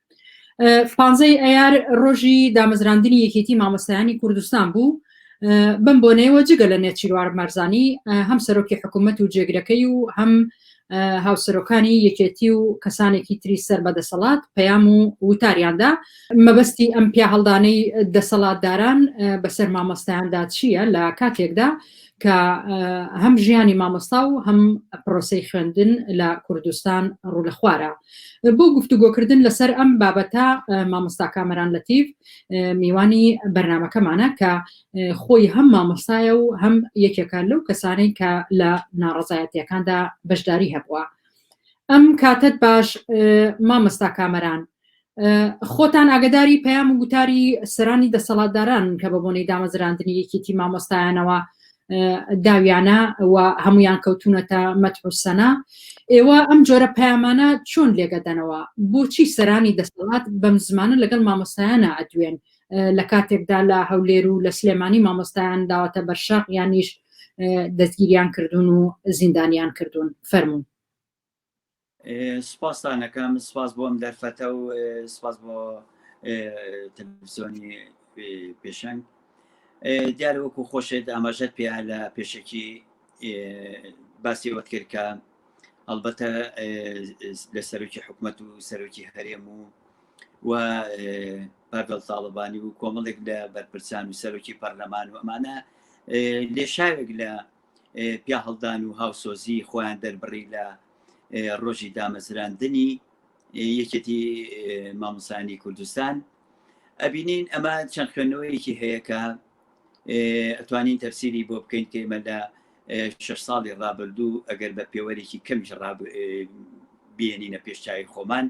پانزەی ئەیار ڕۆژی دامەزراندنی یەکێتی مامۆستایانی کوردستان بوو بم بۆنەوە جگە لە نێچیروار مەرزانی هەم سەرۆکی حکوومەت و جێگرەکەی و هەم هاوسەرۆکانی یەکێتی و کەسانێکی تری سەر بە دەسەڵات پەیام و وتاریاندا مەبەستی ئەم پیا هەڵدانەی دەسەڵاتداران بەسەر مامۆستایاندا چییە لە کاتێکدا کە هەم ژیانی مامۆستا و هەم پرۆسەی خوێندن لە کوردستان ڕوو لە خوارە بۆ گفتوگۆکردن لەسەر ئەم بابەتە مامۆستا کامەران لەتیف میوانی بەرنمەکەمانە کە خۆی هەم مامۆستایە و هەم یەکێکە لەو کەسانەی کە لە ناڕزایەتیەکاندا بەشداری هەبووە ئەم کاتت باش مامۆستا کامەران خۆتان ئاگداری پەیام و گوتاری سەرانی دەسەڵاتداران کە بە بۆنەی دامەزراندنی یەکێتی مامۆستایانەوە داویانە و هەمویان کەوتونەتە مەتحوسەنا ئێوە ئەم جۆرە پەیامانە چۆن لێگەدەنەوە بۆچی سەرانی دەسەڵات بەم زمانە لەگەڵ مامۆستایانە ئەدوێن لە کاتێکدا لە هەولێر و لە سلێمانی مامۆستایان داوەتە بەرشاق یانیش دەستگیریان کردوون و زیندانیان کردوون فەرمونون سپاستان ئەکەم سپاس بۆ ئەم دەرفەتە و سپاس بۆ تەلەڤزیۆنی پێشەنگ دیارە وەکو خۆشێت ئاماژەت پێ لە پێشەکی باسی ئەوەت کرد کە ئەلبەتە لە سەرۆکی حکوومەت و سەرۆکی هەرێم و و پاگەڵ تاڵبانی و کۆمەڵێک لە بەرپرسان و سەرۆکی پەرلەمان و ئەمانە لێشاوێک لە پیاهڵدان و هاوسۆزی خۆیان دەربڕی لە ڕۆژی دامەزراندنی یەکێتی مامۆسانی کوردستان ئەبینین ئەمە چەند خوێندنەوەیەکی هەیە کە ئەتوانین تەفسیری بۆ بکەین کە ئمە لە شش ساڵی ڕابردوو ئەگەر بە پێوەرێکی کەمیش بێنینە پێشچوی خۆمان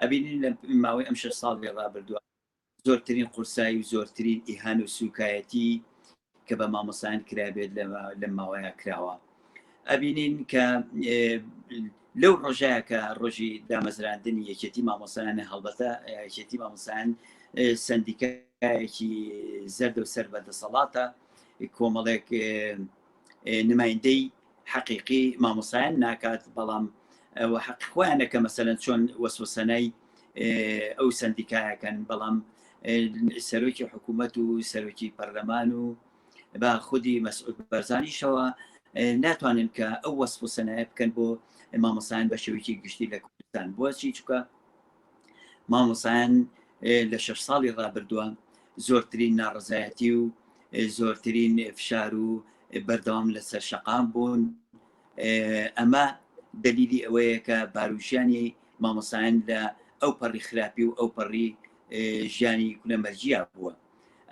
ئەبینین لە ماوەی ئەم شش ساڵی ڕابردووە زۆرترین قورسایی و زۆرترین ئیهانە و سوکایەتی کە بە مامۆسان کرابێت لەم ماوەیە کراوە ئەبینین کە لەو ڕۆژەیە کە ڕۆژی دامەزراندنی یەکێتی مامۆسایانە هەڵبەتە یەکێتی مامۆسان سندیکایەکی زەردە و سەر بە دەسەڵاتە کۆمەڵێک نمایندەی حەقیقی مامۆسایان ناکات بەڵام حەق خۆیانە کە مەسەن چۆن وەسوسەنای ئەو سندیکایەکەن بەڵام سەرۆکی حکوومەت و سەرۆکی پەرلەمان و بە خودی مەسعود بەرزانیشەوە ناتوانن کە ئەو وەسف و سەنایە بکەن بۆ مامۆسایان بە شێوکی گشتی لە کوردستان بۆچی چکە مامۆسایان لە شش ساڵی ڕابردووە زۆرترین ناڕزایەتی و زۆرترین فشار و بەردەوام لەسەر شەقام بوون ئەمە دلیلی ئەوەیە کە باروژیانی مامۆسایان لە ئەو پەڕی خراپی و ئەو پەڕی ژیانی کولەمەرجیا بووە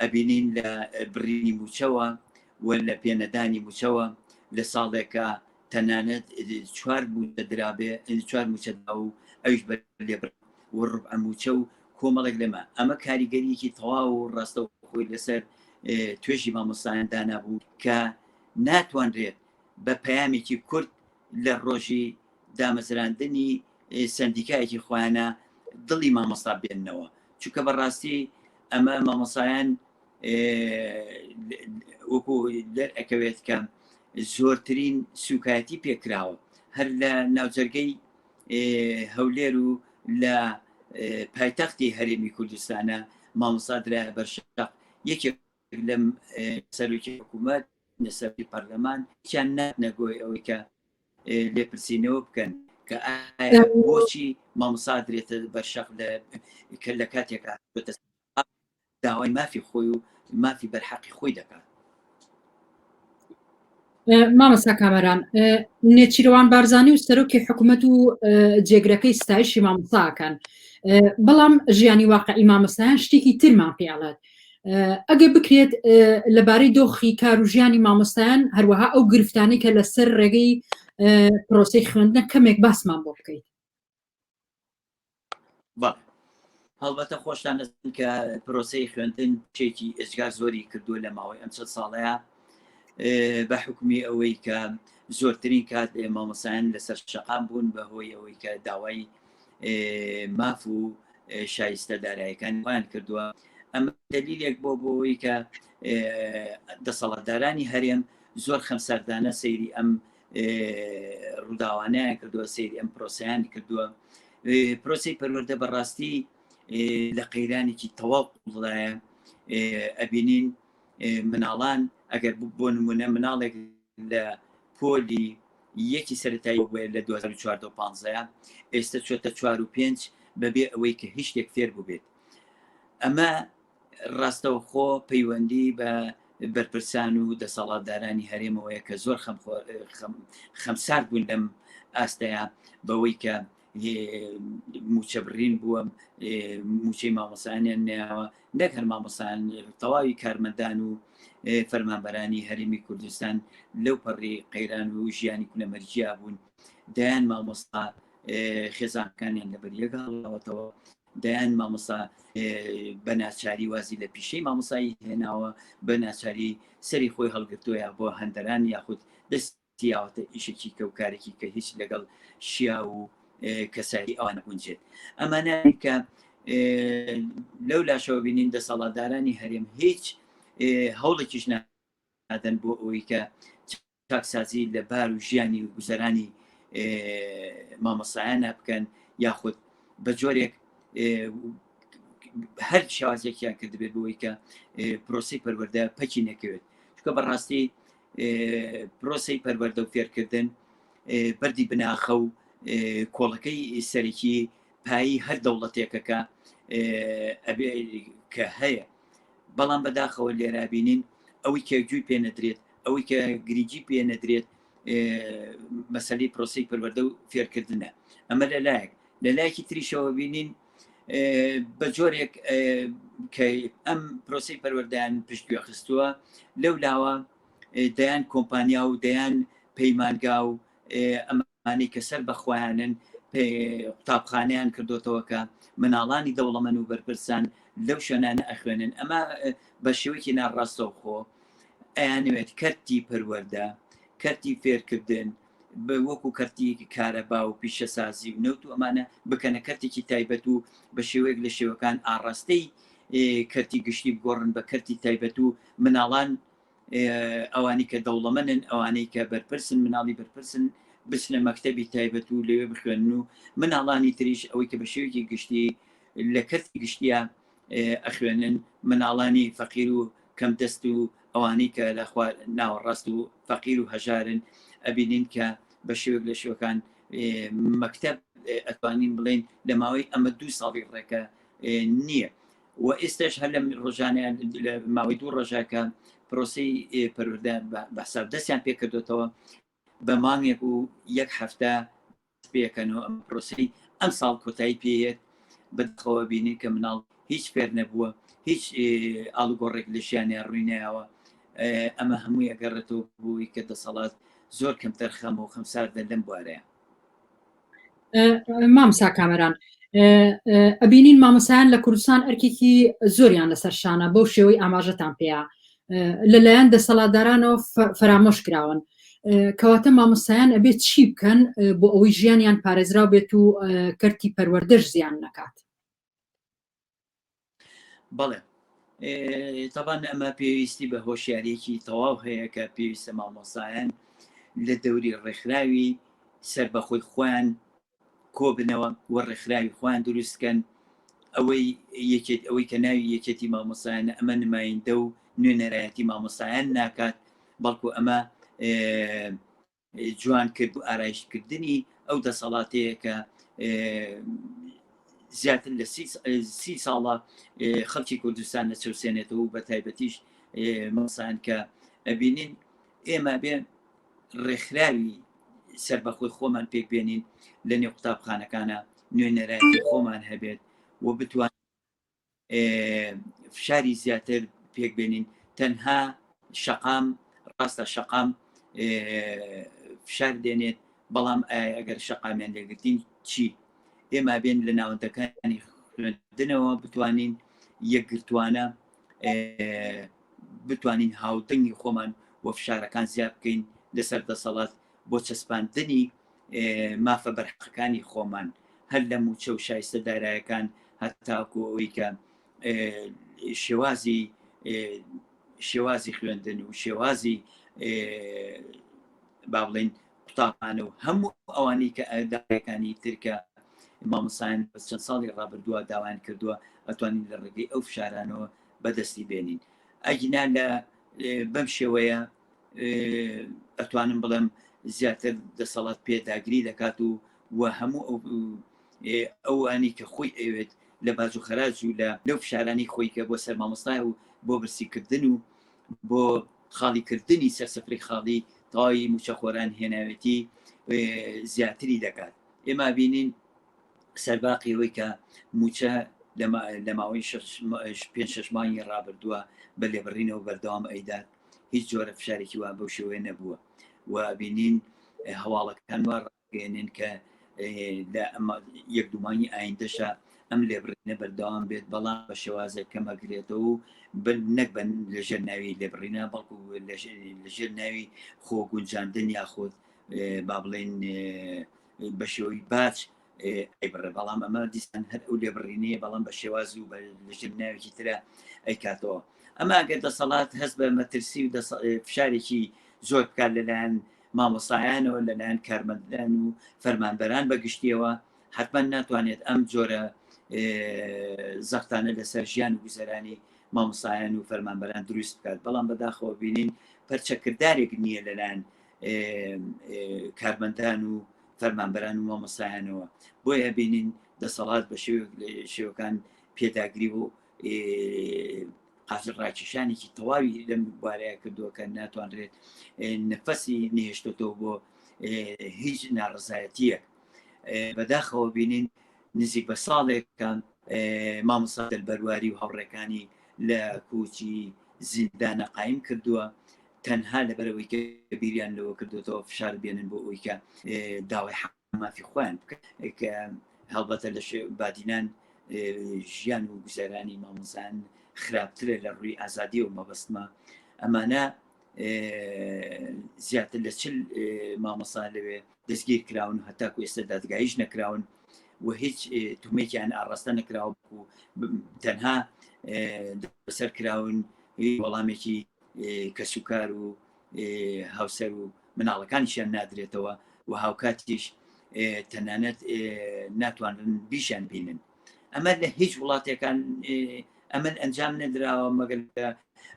ئەبینین لە بڕینی موچەوە و لە پێنەدانی موچەوە لە ساڵێکە تەنانەت چوار موچە درابێ چوار موچە دا و ئەوش بە لێ و ڕب ئەموچە و کۆمەڵێک لەمە ئەمە کاریگەریەکی تەواو و ڕاستە خۆی لەسەر توێژی مامۆستایان دانابوو کە ناتوانرێت بە پەیامێکی کورد لە ڕۆژی دامەزراندنی سندیکایەکی خۆیانە دڵی مامۆستا بێننەوە چونکە بەڕاستی ئەمە مامۆسایان وەکو دەرئەکەوێت کە زۆرترین سوکایەتی پێکراوە هەر لە ناوجەرگەی هەولێر و لە پایتەختی هەرێمی کوردستانە مامۆسادرا بەرشق یەکێ لەم سەرۆکی حکوومەت نەسەری پەرلەمان چیان نەگۆی ئەوەی کە لێپرسینەوە بکەن کە بۆچی مامسادرێتە بەرشەق لە کە لە کاتێکا ئەم داوای مافی خۆی و مافی بەرحەقی خۆی دەکات مامەسا کامەران نێچیرەوان بارزانانی و سەرۆکی حکوومەت و جێگرەکەی ستایشی مامۆساکەن بەڵام ژیانی واقعی مامۆستایان شتێکی ترمان پێڵێت ئەگە بکرێت لەبارەی دۆخی کار و ژیانی مامۆستایان هەروەها ئەو گرفتانی کە لەسەر ڕێگەی پرۆسی خوێندنە کەمێک باسمان بۆ بکەیت با هەڵبەتە خۆشتان دەستن کە پرۆسی خوێندن چێکی ئێجگا زۆری کردووە لە ماوەی ئەم چەند ساڵەیە بە حکومی ئەوەی کە زۆرترین کات مامەسایان لەسەر شەقام بوون بە هۆی ئەوەی کە داوای ماف و شایستە دارایەکان وان کردووە ئەمە دلیلێک بۆ بۆەوەی کە دەسەڵاتدارانی هەرێم زۆر خەمسەردانە سەیری ئەم ڕووداوانیان کردووە سری ئەم پرۆسیانی کردووە پرۆسی پەروەەردە بەڕاستی لە قەیرانێکی تەواو قوڵدایە ئەبینین مناڵان ئەگەر بۆ نمونە مناڵێک لە پۆلی یەکی سەتایی بێ لە 2014 ئێستا چۆتە چوار و پێنج بەبێ ئەوەی کە هیچ شتێک فێر بووبێت ئەمە ڕاستەوخۆ پەیوەندی بە بەرپرسان و دەسەڵاتدارانی هەرێمەوەیە کە زۆر خەمسارد بوون لەم ئاستەیە بەوەی کە موچە بڕین بووە موچەی مامۆسانیان نیاوە نەک هەر مامۆسان تەواوی کارمەندان و فەرمانبەرانی هەرمی کوردستان لەو پەڕی قەیران و ژیانی کونەمەرجیا بوون دایان مامۆستا خێزانەکانیان لەبەریەکەڵەوەتەوە دەیان مامۆسا بە ناچاری وازی لە پیشەی مامۆسایی هێناوە بە ناچاری سەری خۆی هەڵگرتووە بۆ هەندەران یاخود دەست تیاوەتە ئیشێکی کە و کارێکی کە هیچ لەگەڵ شیا و کەسایی ئەوان گونجێت ئەمانە کە لەو لاشەوە بینین دەسەڵاتدارانی هەرێم هیچ هەوڵێکیش نادەن بۆ ئەوەی کە چاکسازی لە بار و ژیانی و گوزەرانی مامۆسایانە بکەن یاخود بە جۆرێک هەر شێوازێکیان کردبێت بۆی کە پرۆسی پەروەەردە پەکی نەکەوێت چکە بەڕاستی پرۆسی پەروەەردە و فێرکردن بەری بناخە و کۆڵەکەی سەرەکی پایی هەر دەوڵەتێکەکە کە هەیە بەڵام بەداخەوە لێرابینین ئەوەی کێکجووی پێ نەدرێت ئەوەی کە گرنگی پێ نەدرێت مەسەی پرۆسی پەروەەردە و فێرکردنە ئەمە لە لایەک لە لایەکی تریشەوە بینین بە جۆرێک کە ئەم پرۆسی پەروەەردەیان پشتگوێ خستووە لەو لاوە دەیان کۆمپانیا و دەیان پەیمانگا و ئەمە ئەوانەی کە سەر بە خۆیانن قوتابخانەیان کردۆتەوە کە مناڵانی دەوڵەمەن و بەرپرسان لەو شوێنانە ئەخوێنن ئەمە بە شێوەیەکی ناڕاستەوخۆ ئەیانوێت کەرتی پەروەەردە کەرتی فێرکردن بە وەکو کەرتیەکی کارەبا و پیشەسازی و نەوت و ئەمانە بکەنە کەرتێکی تایبەت و بە شێوەیەک لە شێوەکان ئاڕاستەی کەرتی گشتی بگۆڕن بە کەرتی تایبەت و مناڵان ئەوانی کە دەوڵەمەنن ئەوانەی کە بەرپرسن مناڵی بەرپرسن بچنە مەکتتەبی تایبەت و لەوێ بخوێنن و مناڵانی تریش ئەوەی کە بە شێوکی گشتی لە کەرتی گشتیە ئەخوێنن مناڵانی فەقیر و کەم دەست و ئەوانەی کە لە ناوەڕاست و فەقیر و هەژارن ئەبینین کە بە شێوک لە شوەکان مەکتب ئەتوانین بڵین لە ماوەی ئەمە دوو ساڵی ڕێکە نییە و ئێستاش هەر لە ڕۆژانیان لە ماوەی دوو ڕژە کە پرۆسی پەروەدە بەسەر دەستیان پێکردوێتەوە بە مانگێک و یەک هەفتە پێکەن و ئەم پرۆسی ئەم ساڵ کۆتایی پێێت بەخەوە بینی کە مناڵ هیچ فێر نەبووە هیچ ئالوگۆڕێک لە ژیانیان ڕوینەوە ئەمە هەمووی ئەگەڕێتەوە بووی کە دەسەڵات زۆر کەم تەرخەم و خەمساردە لەم بوارەیە مامسا کامەران ئەبینین مامەسایان لە کوردستان ئەرکێکی زۆریان لەسەر شانە بەو شێوەی ئاماژەتان پێەیە لەلایەن دەسەڵاتدارانەوە فەرامۆش کراون کەواتە مامۆستایان ئەبێت چی بکەن بۆ ئەوەی ژیانیان پارێزرا بێت و کەرتی پەروەردەش زیان نەکات بەڵێ تەبان ئەمە پێویستی بە هۆشیارێکی تەواو هەیە کە پێویستە مامۆسایان لە دەوری ڕێکخراوی سربەخۆی خۆیان کۆبنەوە و ڕێکخراوی خۆیان دروستکەن ئەوەی یەکێت ئەوەی کە ناوی یەکێتی مامۆسایانە ئەمە نمایندە و نوێنەرایەتی مامۆسایان ناکات بەڵکو ئەمە جوان کرد و ئارایشت کردنی ئەو دەسەڵاتەیە کە زیاتر لە سی ساڵە خەڵکی کوردستان لە چەوسێنێتەوە و بە تایبەتیش مەسان کە ئەبینین ئێمە بێ ڕێکخراوی سەر بەخۆی خۆمان پێک بێنین لە نێو قوتابخانەکانە نوێنەرایەتی خۆمان هەبێت و بتوان فشاری زیاتر پێک بێنین تەنها شەقام ڕاستە شەقام فشار دێنێت بەڵام ئەگەر شەقامیان لێگرتین چی ئێمە بێن لە ناوەندەکانی خوێندنەوە بتوانین یەکگرتوانە بتوانین هاودەنگی خۆمان وە فشارەکان زیاد بکەین لەسەر دەسەڵات بۆ چەسپاندنی مافە بەرحەقەکانی خۆمان هەر لە موچە و شایستە دارایەکان هەتاکو ئەوەی کە شێوازی شێوازی خوێندن و شێوازی با بڵین قوتابانە و هەموو ئەوانی کە ئەداەکانی ترکە مامۆسایان بەس چەند ساڵی ڕابردووە داوایان کردووە ئەتوانین لە ڕێگەی ئەو فشارانەوە بەدەستی بێنین ئەگینا لە بەم شێوەیە ئەتوانم بڵێم زیاتر دەسەڵات پێداگری دەکات و و هەموو ئەوانی کە خۆی ئەوێت لە باج و خەراج و لە لەو فشارانی خۆی کە بۆ سەر مامۆستای و بۆ برسیکردن و بۆ خاڵیکردنی سەر سفری خاڵی تەواوی موچەخۆران هێناوێتی زیاتری دەکات ئێمە بینین سەرباقی ئەوەی کە موچە لە ماوەی پێ شش مانگی ڕابردووە بە لێبڕینەوە بەردەوام ئەیدات هیچ جۆرە فشارێکی وا بەو شێوەیە نەبووە و بینین هەواڵەکان وا ڕاگەێنن کە لە یەک دومانی ئایندەشە ئەم لێبڕینە بەردەوام بێت بەڵام بە شێوازە کەمەگرێتەوە و بن نەک بن لەژێر ناوی لێبڕینە بەڵکو لەژێر ناوی خۆ گونجاندن یاخود با بڵێن بە شێوەی باچ ئەی بڕێ بەڵام ئەمە دیسان هەر ئەو لێبڕینەیە بەڵام بە شێواز و بە لەژێر ناوێکی ترە ئەی کاتەوە ئەمە ئەگەر دەسەڵات هەست بە مەترسی و فشارێکی زۆر بکات لەلایەن مامۆسایانەوە لەلایەن کارمەندان و فەرمانبەران بەگشتیەوە حتمما ناتوانێت ئەم جۆرە زەختانە لەسەر ژیان و گوزەرانی مامۆسایان و فەرمانبەران دروست بکات بەڵام بەداخەوە بینین پەرچەکردارێک نییە لەلایەن کارمەندان و فەرمانبەران و مامۆستایانەوە، بۆیە ئەبینین دەسەڵات بە شێوەیەک لە شێوەکان پێداگری و قاچەقاچیشانێکی تەواوی لەم بارەیە کردووە کە ناتوانرێت نەفەسی نهێشتێتەوە بۆ هیچ ناڕزایەتیەک بەداخەوە بینین نزیک بە ساڵێکان مامۆسادل بەرواری و هاوڕێکانی لە کوچی زیندانە قایم کردووە تەنها لەبەرئەوەی کە بیریان لەوە کردوێتەوە فشار بێنن بۆ ئەوی کە داوای حمافی خۆیان بکە کە هەڵبەتە لە بادینان ژیان و گوزەرانی مامۆزان خراپترە لە ڕووی ئازادی و مەبەستمە ئەمانە زیاتر لە چل مامۆسا لەوێ دەستگیر کراون و هەتاکو ئێستا دادگایش نەکراون و هیچ تومێکیان ئاڕاستە نەکراوە و تەنها بەسەر کراون وەڵامێکی کەسوکار و هاوسەر و مناڵەکانیشیان نادرێتەوە و هاوکاتیش تەنانەت ناتوانن بیشان بینن ئەمە لە هیچ وڵاتەکان ئەمن ئەنجام نەدراوە مەگەر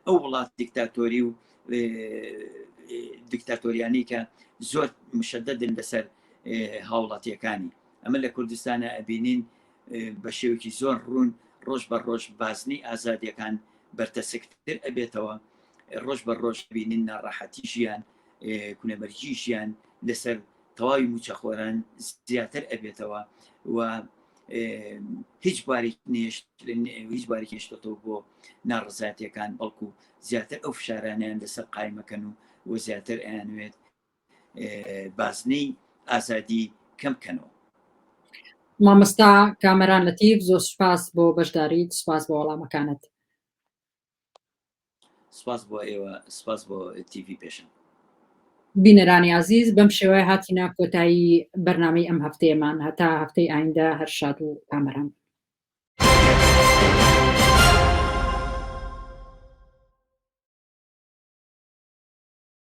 ئەو وڵات دیکتاتۆری و دیکتاتۆریانی کە زۆر مشددن لەسەر هاوڵاتیەکانی ئەمە لە کوردستانە ئەبینین بە شێوەیەکی زۆر ڕوون ڕۆژ بە ڕۆژ بازنەی ئازادیەکان بەرتەسکتر ئەبێتەوە ڕۆژ بە ڕۆژ بینین ناڕەحەتی ژیان کونەبەرگی ژیان لەسەر تەواوی موچەخۆران زیاتر ئەبێتەوە و هیچ بارێک نێشت هیچ بارێک هێشتەوە بۆ ناڕزاتیەکان بەڵکو زیاتر ئەو فشارانیان لەسەر قایمەکەن و و زیاتر ئەیانوێت بازنەی ئازادی کەم بکەنەوە. مامۆستا کامەران لەتیف زۆر سوپاس بۆ بەشداریت سوپاس بۆ وەڵامەکانت سپاس بۆ ئێوە سپاس بۆ تیڤی پێشم بینەرانی عزیز بەم شێوای هاتینا کۆتایی بەرنمەی ئەم هەفتەیەمان هەتا هەفتەی ئایندە هەر شاد و کامەران